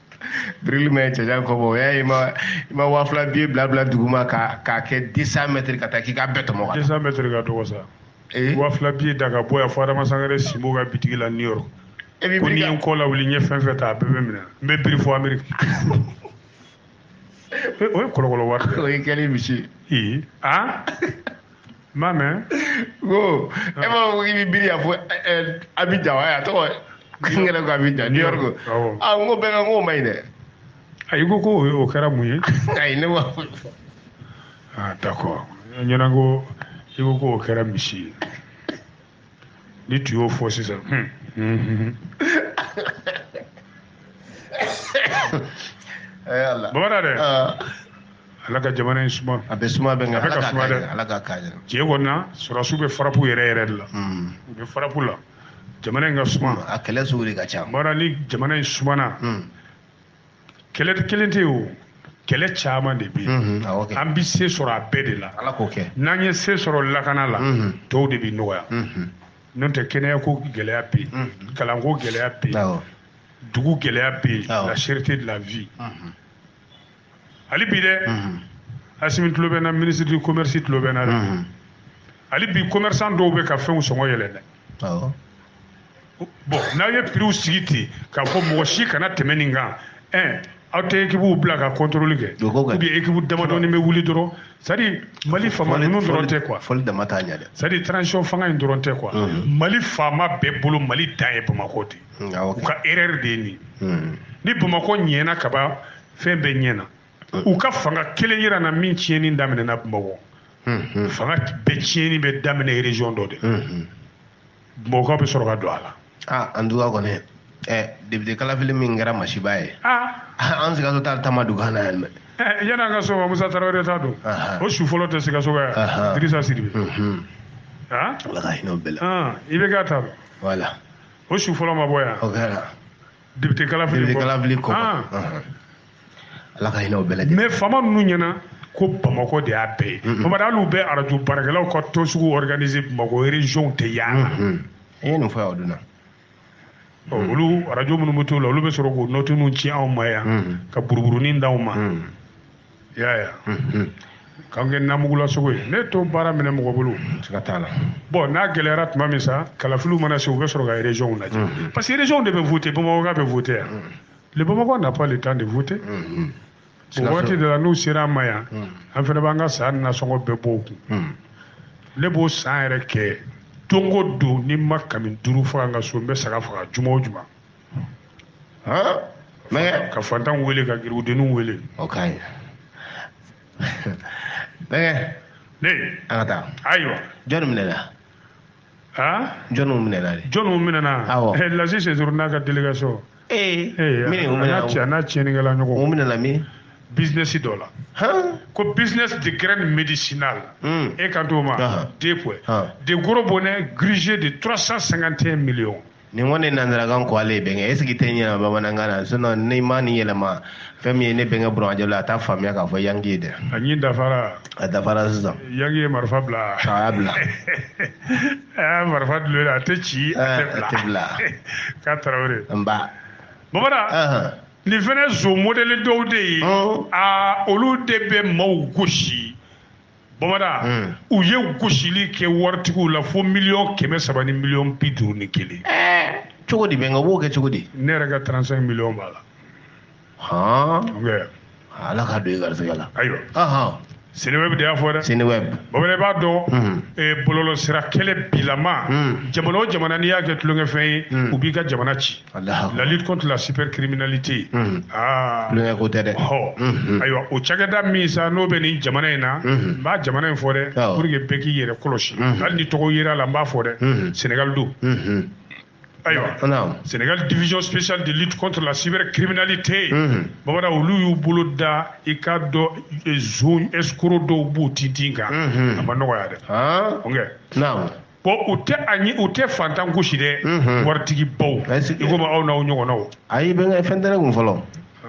birili bɛ cɛjan kɔ bɔ o y'a ye i ma waa fila biye bila bila duguma k'a kɛ deux cents mètres ka taa k'i k'a bɛɛ tɔmɔ deux cents mètres ka dɔgɔ sa eh? waa fila biye da ka bɔ yan fo adama sangare sinbo ka bitigi la new york e ko n'i ye n kɔ lawuli n ye fɛn fɛn ta a bɛɛ bɛ minɛ n bɛ biri fo ameriki o ye kɔlɔkɔlɔ wari o ye kɛlen misi ee aa ma mɛ ko e ma fɔ k'i bɛ biri fo abidjan wa a tɔgɔ n yɛrɛ ko abidjan new york a n ko bɛɛ ka n k'o man ɲi dɛ ayi ko ko o kɛra mun ye ayi ne ma foyi fɔ ah d'accord n ɲɛ na ko i ko ko o kɛra misi ye ni tun y'o fɔ sisan bamanan dɛ ala ka jamana in suma a bɛ suma bɛ ka suma dɛ ala ka k'a ɲɛna tiɲɛ kɔni na sɔrɔdasiw bɛ farapu yɛrɛ yɛrɛ de la hmm. u bɛ farapu la jamana in ka suma a kɛlɛ sugu de ka ca bamanan ni jamana in sumana hmm. kɛlɛ kelen tɛ o kɛlɛ caman de bɛ yen an bɛ se sɔrɔ a bɛɛ de la n'an ye se sɔrɔ lakana la tɔw de bɛ nɔgɔya n'o tɛ kɛnɛya ko gɛlɛya bɛ yen kalanko gɛlɛya bɛ yen dugu gɛlɛya bɛ yen la cherté de la vie hali bi dɛ asimi tulo bɛ n na ministre du commerce tulo bɛ n na dɛ hali bi commerçant dɔw bɛ ka fɛnw sɔngɔ yɛlɛn dɛ bon n'aw ye prixw sigi ten k'a fɔ mɔgɔ si kana tɛmɛ nin kan ɛn aw tɛ équipew bila ka contrôle kɛ ou bien équipe damadɔni bɛ wuli dɔrɔn c'est-à-dire mali faama ninnu dɔrɔn tɛ quoi c'est-à-dire transition fanga in dɔrɔn tɛ quoi mali faama bɛɛ bolo mali dan ye bamakɔ de u ka erreur de ye nin hmm. ni bamakɔ ɲɛna kaban fɛn bɛɛ ɲɛna hmm. u ka fanga kelen yira n na min tiɲɛni daminɛna bamakɔ hmm, fanga bɛɛ tiɲɛni bɛ daminɛ région dɔ de bamakɔkaw bɛ sɔrɔ ka don a la aa en tout cas kɔni ɛ député kalafili min kɛra masiba ye an sikaso ta ta ma dog'an na yan dɛ yan'an ka sɔn musa tarawele ta don o su fɔlɔ tɛ sikasoka ye wa dirisa sidibe ala ka hinɛ o bɛɛ la i bɛ k'a ta voilà o su fɔlɔ ma bɔ yan o kɛra député kalafili député kalafili kɔ ah. ala ka hinɛ o bɛɛ lajɛlen mais faama ninnu ɲɛna ko bamakɔ de y'a bɛɛ ye bamadu hali u bɛ arajo baarakɛlaw ka tɔnsigi organiser bamakɔ région tɛ y'a la i ye nin fɔ yan o don na olu arajo minnu bɛ t'o la olu bɛ sɔrɔ k'o note ninnu ci anw ma yan ka buruburunin d'anw ma i y'a ye wa k'an kɛ namugula sogo ye ne to baara minɛ mɔgɔ bolo ka t'a la bon n'a gɛlɛyara tuma min sa kalafiliw mana se u bɛ sɔrɔ ka région lajɛ mm-hmm. parce que région de bɛ voter bamakɔka bɛ voter wa mm-hmm. le bamakois n'a pas le temps de voter mm-hmm. o waati de la n'u sera an ma yan an fana b'an ka san nasɔngɔ bɛɛ bɔ u kun ne b'o san yɛrɛ kɛ don o don ni n ma kami duuru faga n ka so n bɛ saga faga juma o juma mɛgɛ ka fantan wele ka garibudenw wele o ka ɲi mɛgɛ ne an ka taa ayiwa jɔni minɛna jɔniw minɛna de jɔniw minɛna awɔ eh, lasi sɛsoro n'a ka délégation ee eh, min u minɛna a n'a tiɲɛnikɛla ɲɔgɔn u minɛna min business dɔ la ko business de graine médicinale hmm. e kan t'o ma deux points deux gros bonnets grugés de 351 millions nin kɔni nanzarakan ko ale ye bɛnkɛ est ce que t'a yɛlɛma bamanankan na sinon n'i ma nin yɛlɛma fɛn min ye ne bɛnkɛ buranjɛ la a t'a faamuya k'a fɔ yangi ye dɛ a ɲi dafara a dafara sisan yangi ye marifa bila a y'a bila a y'a marifa dulo la a tɛ ci a tɛ bila k'a tarawele nba bamada nin fana nson modɛli dɔw de ye aa olu de bɛ maaw gosi bamada hmm. u ye gosili kɛ waritigiw la fo miliyɔn kɛmɛ saba ni miliyɔn bi duuru ni kelen eh, cogo di bɛnkɛ u b'o kɛ cogo di ne yɛrɛ ka 35 miliyɔn b'a la ala k'a don i garisɛgɛ la ayiwa senewɛb de y'a fɔ dɛ senewɛb bamada i b'a dɔn hmm. eh, bɔlɔlɔsira kɛlɛ bilama hmm. jamana o jamana n'i y'a kɛ tulonkɛfɛn ye u b'i ka jamana ci la lutte contre la cybercriminalité mhm. ah. tulonkɛ ko tɛ dɛ mhm. ayiwa o cakɛda min sa n'o bɛ nin jamana in na mhm. n bɛ jamana in fɔ dɛ pour que bɛɛ k'i yɛrɛ kɔlɔsi hali ni tɔgɔ yera la n b'a fɔ dɛ Sénégal don ayiwa Sénégal division spéciale de lutte contre la cybercriminalité bamada olu y'u bolo da i k'a dɔn nson escroc dɔw b'u tintin kan a ma nɔgɔya dɛ ah. ok bon u tɛ ayi u tɛ fantan gosi dɛ waritigi baw i komi aw n'aw ɲɔgɔnnaw ayi bɛnkɛ fɛn tɛ ne kun fɔlɔ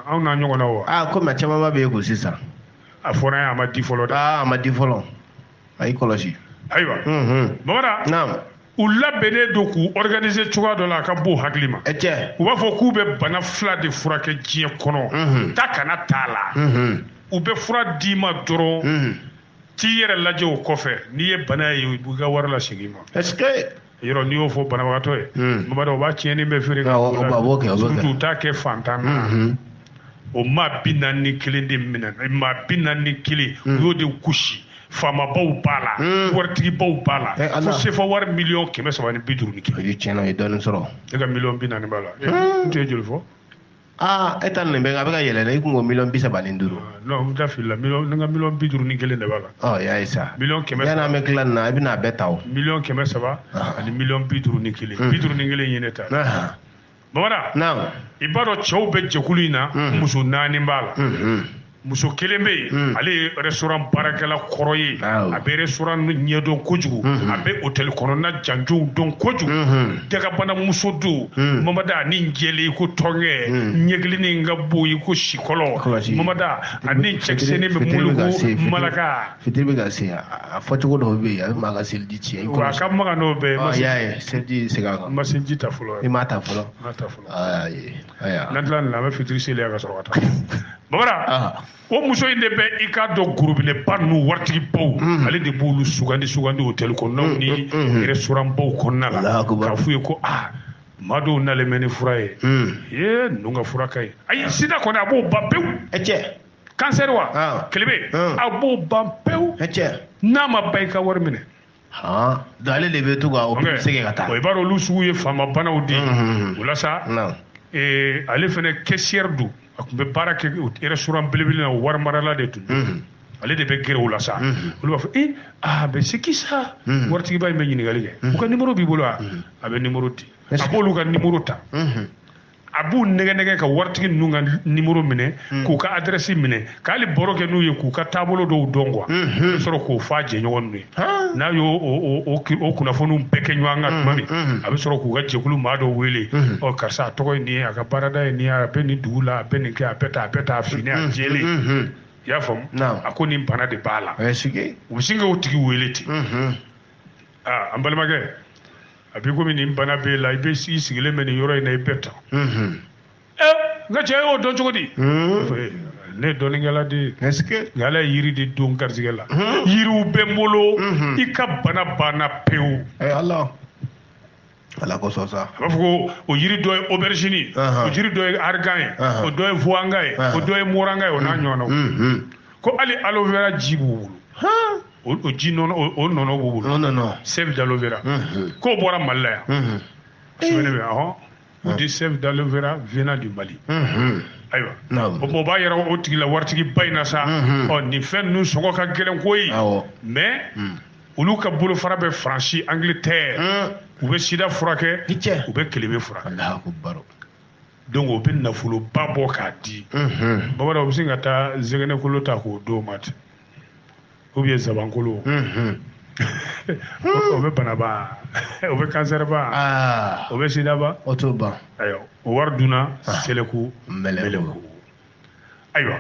aw n'aw ɲɔgɔnnaw wa aa komi a camanba b'e kun sisan a fɔra yan a ma di fɔlɔ dɛ aa a ma di fɔlɔ a y'i kɔlɔsi ayiwa bamada naam u labɛnnen don k'u organiser cogoya dɔ la a ka bon hakili ma cɛ u b'a fɔ k'u bɛ bana fila de furakɛ diɲɛ kɔnɔ taa ka na t'a la u bɛ fura d'i ma dɔrɔn t'i yɛrɛ lajɛ o kɔfɛ n'i ye bana ye u b'i ka wari lasegin i ma. est-ce que yɔrɔ n'i y'o fɔ banabagatɔ ye. Hmm. bamada o b'a tiɲɛnin bɛɛ feere ka k'o la surtout u t'a kɛ fantan na. Hmm. o maa bi naani ni kelen de minɛ maa bi naani ni kelen hmm. u y'o de gosi faamabaw b'a la waritigibaw b'a la eh, fo sefa wari miliyɔn kɛmɛ saba ni bi duuru ni kelen. u ye tiɲɛ na u ye dɔɔnin sɔrɔ. e ka miliyɔn bi naani b'a la. n tun ye joli fɔ. aa e ta nin bɛ a bɛ ka yɛlɛ dɛ i tun ko miliyɔn bi saba ni duuru ah, non n da filila ne ka miliyɔn bi duuru ni kelen de b'a la ɔ y'a ye sa miliyɔn kɛmɛ saba yanni an bɛ tila nin na i bɛna a bɛɛ ta o miliyɔn kɛmɛ saba ah. ani miliyɔn bi duuru ni kelen hmm. bi duuru ni kelen ye ne ta bamada i b'a dɔn cɛw bɛ jɛkulu in na hmm. muso naani b'a la hmm, muso kelen bɛ yen hmm. ale ye restaurant baarakɛla kɔrɔ ye a bɛ restaurant ɲɛdɔn kojugu hmm. a bɛ hôtel kɔnɔna janjow dɔn kojugu hmm. dagabana muso don mamada a ni jɛlen i ko tɔnkɛ ɲɛkilinin ka bon i ko sikɔlɔ mamada a ni cɛkisɛnin bɛ muluku malaka fitiri bɛ ka se a fɔcogo dɔw bɛ yen a bɛ maa ka seliji tiɲɛ wa a ka magan n'o bɛɛ ye ah, ma seliji segin a kan n ma seliji ta fɔlɔ i m'a ta fɔlɔ n'an tila nin na an bɛ fitiri seli ka sɔrɔ ka taa bamanan o muso in de bɛ i k'a dɔn gorobinɛba ninnu waritigibaw mm. ale de b'olu sugandi sugandi hôtel kɔnɔnaw mm, ni mm, restaurantbaw kɔnɔna la k'a f'u ye ko aa maa dɔw nalen bɛ ni fura ye ee ninnu ka fura ka ɲi ayi sida kɔni a b'o ban pewu kansɛri wa kelebe a b'o ban pewu n'a ma ban i ka wari minɛ ale de bɛ to ka o segin ka taa i b'a dɔn olu sugu ye faama banaw de ye o la sa ale fana caissière don a tun bɛ baara kɛ restaurant belebele na wari marala de tun don ale de bɛ gɛrɛ o la sa olu b'a fɔ e a bɛ c'est qui ça waritigiba in bɛ ɲininkali kɛ u ka numéro b'i bolo wa a bɛ numéro di a b'olu ka numéro ta a b'u nɛgɛ nɛgɛ ka waritigi ninnu ka numéro minɛ hmm. k'u ka adrɛsi minɛ ka hali baro kɛ n'u ye k'u ka taabolo dɔw dɔn quoi hmm, hmm. a bɛ sɔrɔ k'o fɔ a jɛɲɔgɔn ninnu ye n'a y'o o kunnafoniw bɛɛ kɛ ɲɔgɔn kan tuma min a bɛ sɔrɔ k'u ka jɛkulu maa dɔw wele ɔ karisa a tɔgɔ ye nin ye a ka baarada ye nin ye a bɛ nin dugu la a bɛ nin kɛ a bɛ tan a bɛ tan a finnen a jɛlen i y'a faamu a ko nin bana de b'a la u bɛ sin k'o tigi wele ten aa an balimakɛ a b'i komi nin bana b'e la i bɛ i sigilen bɛ nin yɔrɔ in na i bɛ tan ɛ n ka cɛ e y'o dɔn cogo di ne ye dɔnnikɛla de ye nka ala ye yiri de don n garijɛgɛ la yiriw bɛ n bolo i ka bana banna pewu ala kosɔn sa a b'a fɔ ko o yiri dɔ ye aubergine o yiri dɔ ye argan ye o dɔ ye vuwanga ye o dɔ ye moranga ye o n'a ɲɔgɔnnaw ko hali aloe vera ji b'u bolo o o ji nɔnɔ o- o nɔnɔ b'u bolo non non non sève d'aloe vera Mhm. k'o bɔra mali la yan Mhm. sɛbɛnni bɛ ɔhɔn on dit sève d'aloe vera venant du mali Mhm. ayiwa Naamu. o o b'a yira o tigi la waritigi ba in na sa Mhm. ɔ nin fɛn ninnu sɔngɔ ka gɛlɛn koyi Awɔ. mais olu ka bolofara bɛ faransi angleterre Mhm. u bɛ sida furakɛ Ni cɛ. u bɛ kelebe furakɛ Allahu akbar. donc o bɛ nafoloba bɔ k'a di Mhm. bamanan u bɛ sin ka taa zɛgɛnɛkolo ta k'o d'o ma ten ou bien zabankolo o bɛ banaba o bɛ kansɛriba o bɛ sidaba o t'o ban ayiwa o wari dunna seleku meleku ayiwa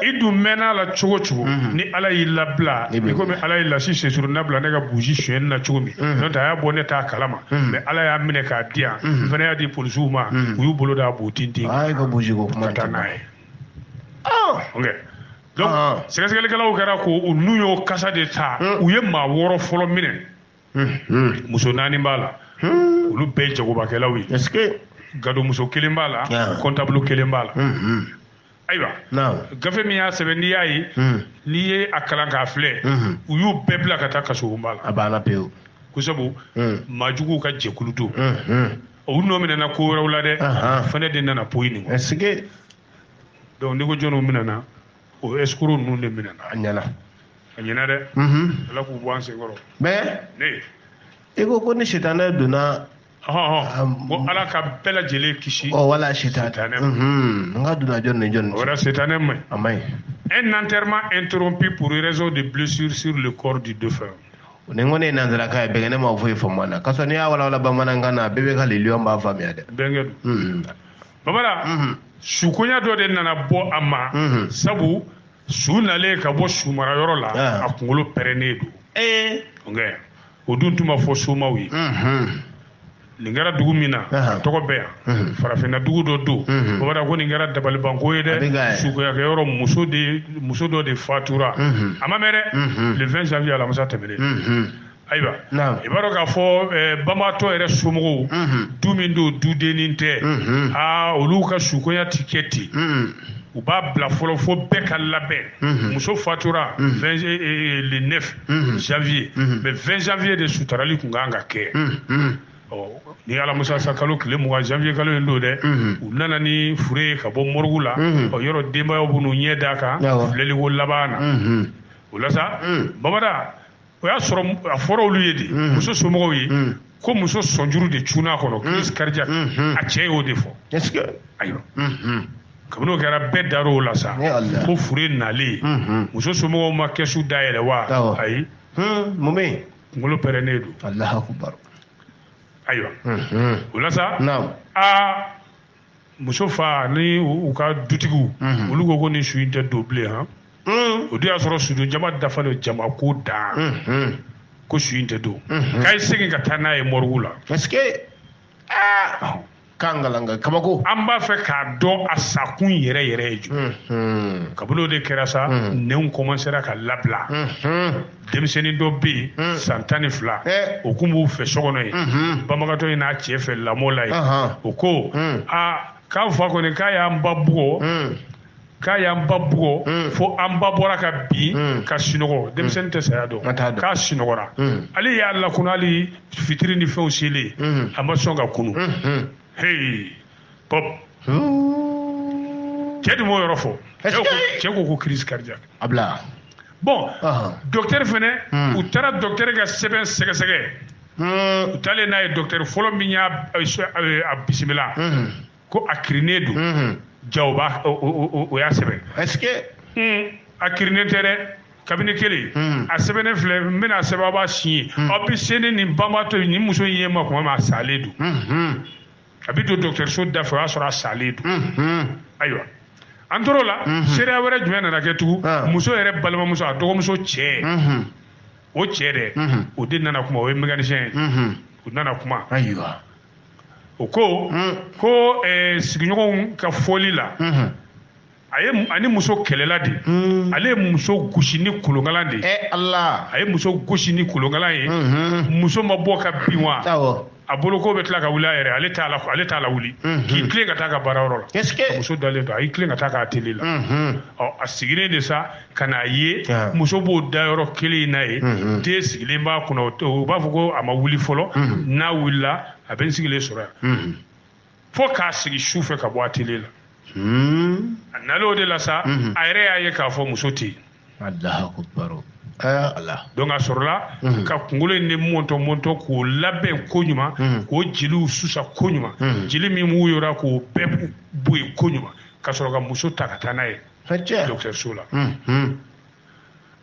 i dun mɛnn'a la cogo cogo ni ala y'i labila i komi ala y'i lasi sesuru nabila ne ka busi suyɛn na cogo min n'o tɛ a y'a bɔ ne t'a kalama mais ala y'a minɛ k'a di yan n fana y'a di polisiw ma u y'u bolo d'a b'u tintin ka taa n'a ye donc ah. sɛgɛsɛgɛlikɛlaw kɛra ko u nun y'o kasa de ta hmm. u ye maa wɔɔrɔ fɔlɔ minɛ hmm, hmm. muso naani b'a la olu bɛɛ ye jagobakɛlaw ye gadomuso kelen b'a la comptable ah. kelen b'a la ayiwa gafe min y'a sɛbɛn n'i y'a ye n'i ye a kalan k'a filɛ u y'u bɛɛ bila ka taa kasobonba la a banna pewu ko sabu maajuguw ka jɛkulu don u nɔ minɛna ko wɛrɛw la dɛ fɛnɛ de nana poyi nin kɔ donc n'i ko jɔniw minɛna o escroc ninnu de minɛna a ɲɛna a ɲɛna dɛ ala k'u bɔ an senkɔrɔ mais ne i ko ko ni sitanɛ donna ko ala ka bɛɛ lajɛlen kisi ɔ wala sitanɛ n ka donna jɔni ni jɔni o wɛrɛ sitanɛ man ɲi a man ɲi un enterrement interrompu pour raison de blessure sur le corps du défunt nin kɔni ye nanzarakan ye bɛnkɛ ne ma foyi faamu a la kasɔrɔ n'i y'a walawala bamanankan na a bɛɛ bɛ ka liliyɔn b'a faamuya dɛ bɛnkɛ don babara mhm. sukoya dɔ de nana bɔ a ma mhm. sabu su nalen ka bɔ sumarayɔrɔ la ah. a kunkolo pɛrɛnnen don eh. o dun tun ma fɔ somaw ye mhm. nin kɛra dugu min na a tɔgɔ bɛ yan mhm. farafinna dugu dɔ don mhm. babara ko nin kɛra dabalibanko ye dɛ sukoyakɛ yɔrɔ muso de muso dɔ de fatura mhm. a ma mɛn dɛ le 20 janvier alamisa tɛmɛnen ayiwa i b'a dɔn k'a fɔ eh, banbaatɔ yɛrɛ somɔgɔw du min don dudennin tɛ aa olu ka sukoya ti kɛ ten u b'a bila fɔlɔ fo bɛɛ ka labɛn mhm. muso fatura mhm. eh, eh, le 9 mhm. janvier mais 20 janvier de sutarali tun kan ka kɛ ni alamisa sa kalo tile mugan janvier kalo in don dɛ u nana ni fure ye ka bɔ mɔrigu la yɔrɔ denbayaw bɛ n'u ɲɛ d'a kan filɛliko laban na o la sa babada o y'a sɔrɔ a fɔra olu ye de mm. muso somɔgɔw ye mm. ko muso sɔnjuru de cunna a kɔnɔ crise mm. cardiaque mm-hmm. a cɛ y'o de fɔ ayiwa mm-hmm. kabini o kɛra bɛɛ dar'o la sa ko fure nalen mm-hmm. muso somɔgɔw ma kɛsu dayɛlɛ wa ayi hmm, mun bɛ yen kunkolo pɛrɛnnen don ayiwa o la sa aa muso fa ni u ka dutigiw mhm. olu ko ko nin su in tɛ don bilen han mhm. o dun y'a sɔrɔ sudon jama dafalen jama ko dan mhm. ko su in tɛ don k'a ye segin ka taa n'a ye mɔrigu la parce que aa k'an kalanka kabako an b'a fɛ k'a dɔn a sakun yɛrɛ yɛrɛ ye jumɛn kabini o de kɛra sa nenw kɔmansera ka labila denmisɛnnin dɔ bɛ yen hmm. san tan ni fila eh. o tun b'u fɛ so kɔnɔ yen mhm. banbagatɔ in n'a cɛ fɛ lamɔ la yen o ko hmm. aa k'an fa kɔni k'a y'an ba bugɔ hmm. k'a y'an ba bugɔ mm. fo an ba bɔra ka bin mm. ka sunɔgɔ mm. denmisɛnnin tɛ saya dɔn k'a sunɔgɔra ale y'a lakunu hali fitiri ni fɛnw selen a ma sɔn ka kunu heyi pop cɛ dun m'o yɔrɔ fɔ Est-ce cɛ ko que- cɛ ko ko crise cardiaque Abla bon Ahan. docteur fɛnɛ Hmm. u taara docteur ka sɛbɛn sɛgɛsɛgɛ u taalen n'a ye docteur fɔlɔ min y'a a a- a bisimila ko a kirinen don ja o b'a o- o o- o y'a sɛbɛn est-ce que un a kirinen tɛ dɛ kabini kelen Hmm. a sɛbɛnnen filɛ n bɛna a sɛbɛn aw b'a siɲe aw bɛ se ni nin banabaatɔ ye nin muso in ye n ma kuma min a salen don Mhm. a bɛ don dɔgɔtɔrɔso da fɛ o y'a sɔrɔ a salen don ayiwa an tor'o la seereya wɛrɛ jumɛn nana kɛ tugun ah. muso yɛrɛ balimamuso a dɔgɔmuso cɛ o cɛ de o de nana kuma o ye mécanicien ye o nana kuma ayiwa o ko ko eh, sigiɲɔgɔnw ka fɔli la a ye ani muso kɛlɛla de hmm. ale ye muso gosi ni kolonkalan de ye eh, Allah a ye muso gosi ni kolonkalan ye hmm. muso ma bɔ ka bin wa a bolo ko bɛ tila ka wuli a yɛrɛ ale t'a la ale t'a la wuli hmm. k'i tilen ka taa ka baara yɔrɔ la muso dalen don a y'i tilen ka taa ka atelier la ɔ a sigilen de sa ka n'a ye ah. muso b'o da yɔrɔ kelen in na ye den sigilen b'a kunna u b'a fɔ ko a ma wuli fɔlɔ n'a wulila a bɛ n sigilen sɔrɔ yan fo k'a sigi su fɛ ka bɔ atelier la hmm. a nalen o de la sa mhm. a yɛrɛ y'a ye k'a fɔ muso tɛ yen donc a sɔrɔla mhm. ka kunkolo in de mɔntɔ mɔntɔ k'o labɛn ko ɲuman mhm. k'o jeliw susa ko ɲuman jeli min b'o yɔrɔ k'o bɛɛ bɔ yen ko ɲuman ka sɔrɔ ka muso ta ka taa n'a ye dɔgɔtɔrɔso la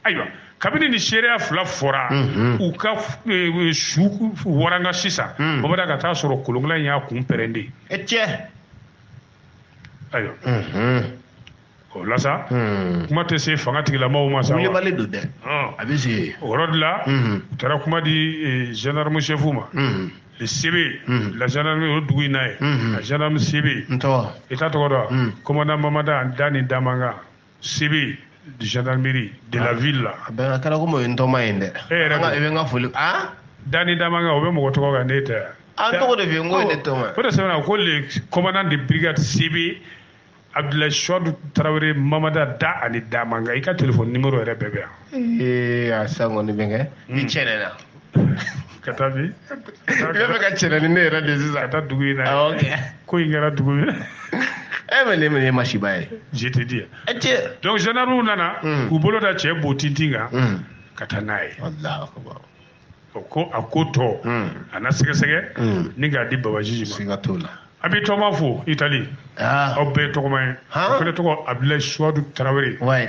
ayiwa kabini ni seereya fila fɔra mhm. u ka e, e, su waranga sisan mhm. bamada ka taa sɔrɔ kolonkalan in y'a kun pɛrɛn de e tiɲɛ ayiwa mhm. o la sa kuma tɛ se fanga tigilamɔgɔw ma sa wulibali don dɛ a bɛ se o yɔrɔ de la u taara kuma di gendarme chef ma le CB mm-hmm. la gendarme o dugu in na ye mm-hmm. la gendarme CB i t'a tɔgɔ dɔn mm. commandant mamada da ni damanga CB de gendarmerie de la ah. ville là a bɛɛ kɛra komi o ye n tɔma ye dɛ e yɛrɛ i bɛ n ka foli a dani damanka o bɛ mɔgɔ tɔgɔ kan ne tɛ yan an tɔgɔ de bɛ yen n ko ye ne tɔma o de sɛbɛnna ko le commandant de brigade CB abdulayi suwadu tarawele mamada da ani damanka i ka telefɔni nimero yɛrɛ bɛɛ bɛ yan ee a sisan kɔni bɛnkɛ i cɛnɛna ka taa bi i bɛ fɛ ka cɛnɛ ni ne yɛrɛ de sisan ka taa dugu in na awɔ kɛ ko in kɛra dugu min na e bɛ ne minɛ masiba ye je te dis e cɛ donc gendarmew nana Hmm. k'u bolo da cɛ bo tintin kan Hmm. ka taa n'a ye Allahu akbar. o ko a ko tɔ Hmm. a na sɛgɛsɛgɛ Hmm. ni k'a di babajiji ma siga t'o la an bɛɛ tɔgɔma fo itali aa aw bɛɛ tɔgɔma ye Han? o fana tɔgɔ abdulayi suwadu tarawele wayi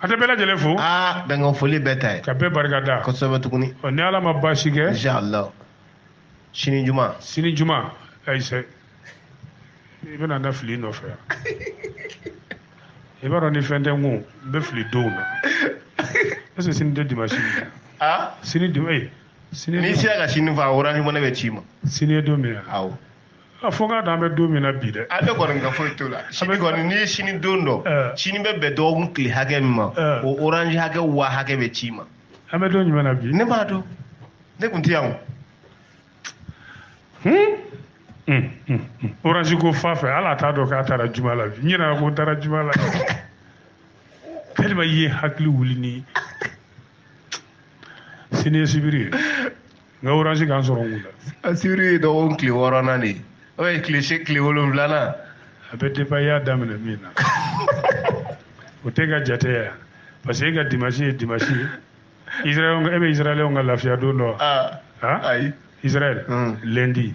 an tɛ bɛɛ lajɛlen fo aa bɛnkan foli bɛɛ ta ye ka bɛɛ barika da kosɛbɛ tuguni ɔ ni ala ma baasi kɛ inshallah sini juma sini juma ayise i bɛna an nafili nɔfɛ yan i b'a dɔn ni fɛn tɛ n kun n bɛ fili donw na est ce que sini tɛ dimanche ye aa sini dimanche sini n'i sera ka sini fɔ orange money bɛ ci i ma sini ye don min ye awɔ a fɔ n k'a dɔn an bɛ don min na bi dɛ a bɛ n kɔnɔ nka foyi t'o la sini kɔni n'i ye sini don dɔn eh. sini bɛ bɛn dɔgɔkun tile hakɛ min ma eh. o orange hakɛ wa hakɛ bɛ ci i ma an bɛ don jumɛn na bi ne b'a dɔn ne tun tɛ yan o hmm? hmm, hmm, orange ko fa fɛ hali a t'a dɔn k'a taara juma la bi n ɲinɛna ko n taara juma la tellement i ye hakili wuli ni sini ye sibiri ye n ka oransi ka n sɔrɔ mun na a sibiri ye dɔgɔkun tile wɔɔrɔnan de ye o ye tile se tile wolonwulanan a bɛ depan i y'a daminɛ min na o tɛ ka jate yan parce que e ka dimasi ye dimasi ye israɛl e bɛ israɛlɛnw ka lafiya don dɔn ah, ah? ayi israɛl hmm. lendi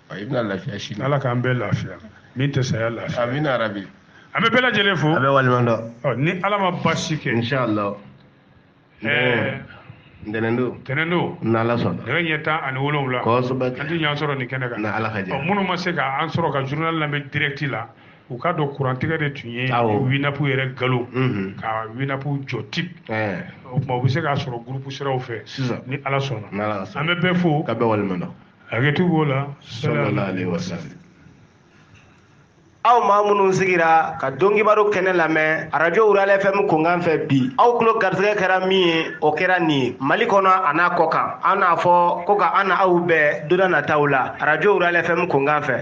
a i bɛna lafiya si ala k'an bɛɛ lafiya min tɛ saya lafiya amina yarabi an bɛ bɛɛ lajɛlen fo ka bɛɛ waleɲuman dɔn ni ala ma baasi kɛ inshallah ɛɛ ntɛnɛn don ntɛnɛn don n'ala sɔnna nɛgɛ ɲɛ tan ani wolonwula kosɛbɛ an tɛ ɲɔgɔn sɔrɔ nin kɛnɛ kan n'ala ka jɛ minnu ma se k'an sɔrɔ ka journal lamɛn direct la u k'a dɔn kurantigɛ de tun ye winapu yɛrɛ galo mhm. ka winapu jɔ tip eh. o tuma u bɛ se k'a sɔrɔ gurupu siraw fɛ ni ala sɔnna an bɛ bɛɛ fo ka bɛɛ waleɲuman dɔn hakɛto b'o la sallallahu alaihi wasallam aw maa minnu sigira ka dɔnkibaro kɛnɛ lamɛn arajo wurala fm kunkan fɛ bi aw tulo garisɛgɛ kɛra min ye o kɛra nin ye mali kɔnɔ an'a kɔkan an n'a fɔ ko ka an n'aw bɛn donna nataw la arajo wurala fm kunkan fɛ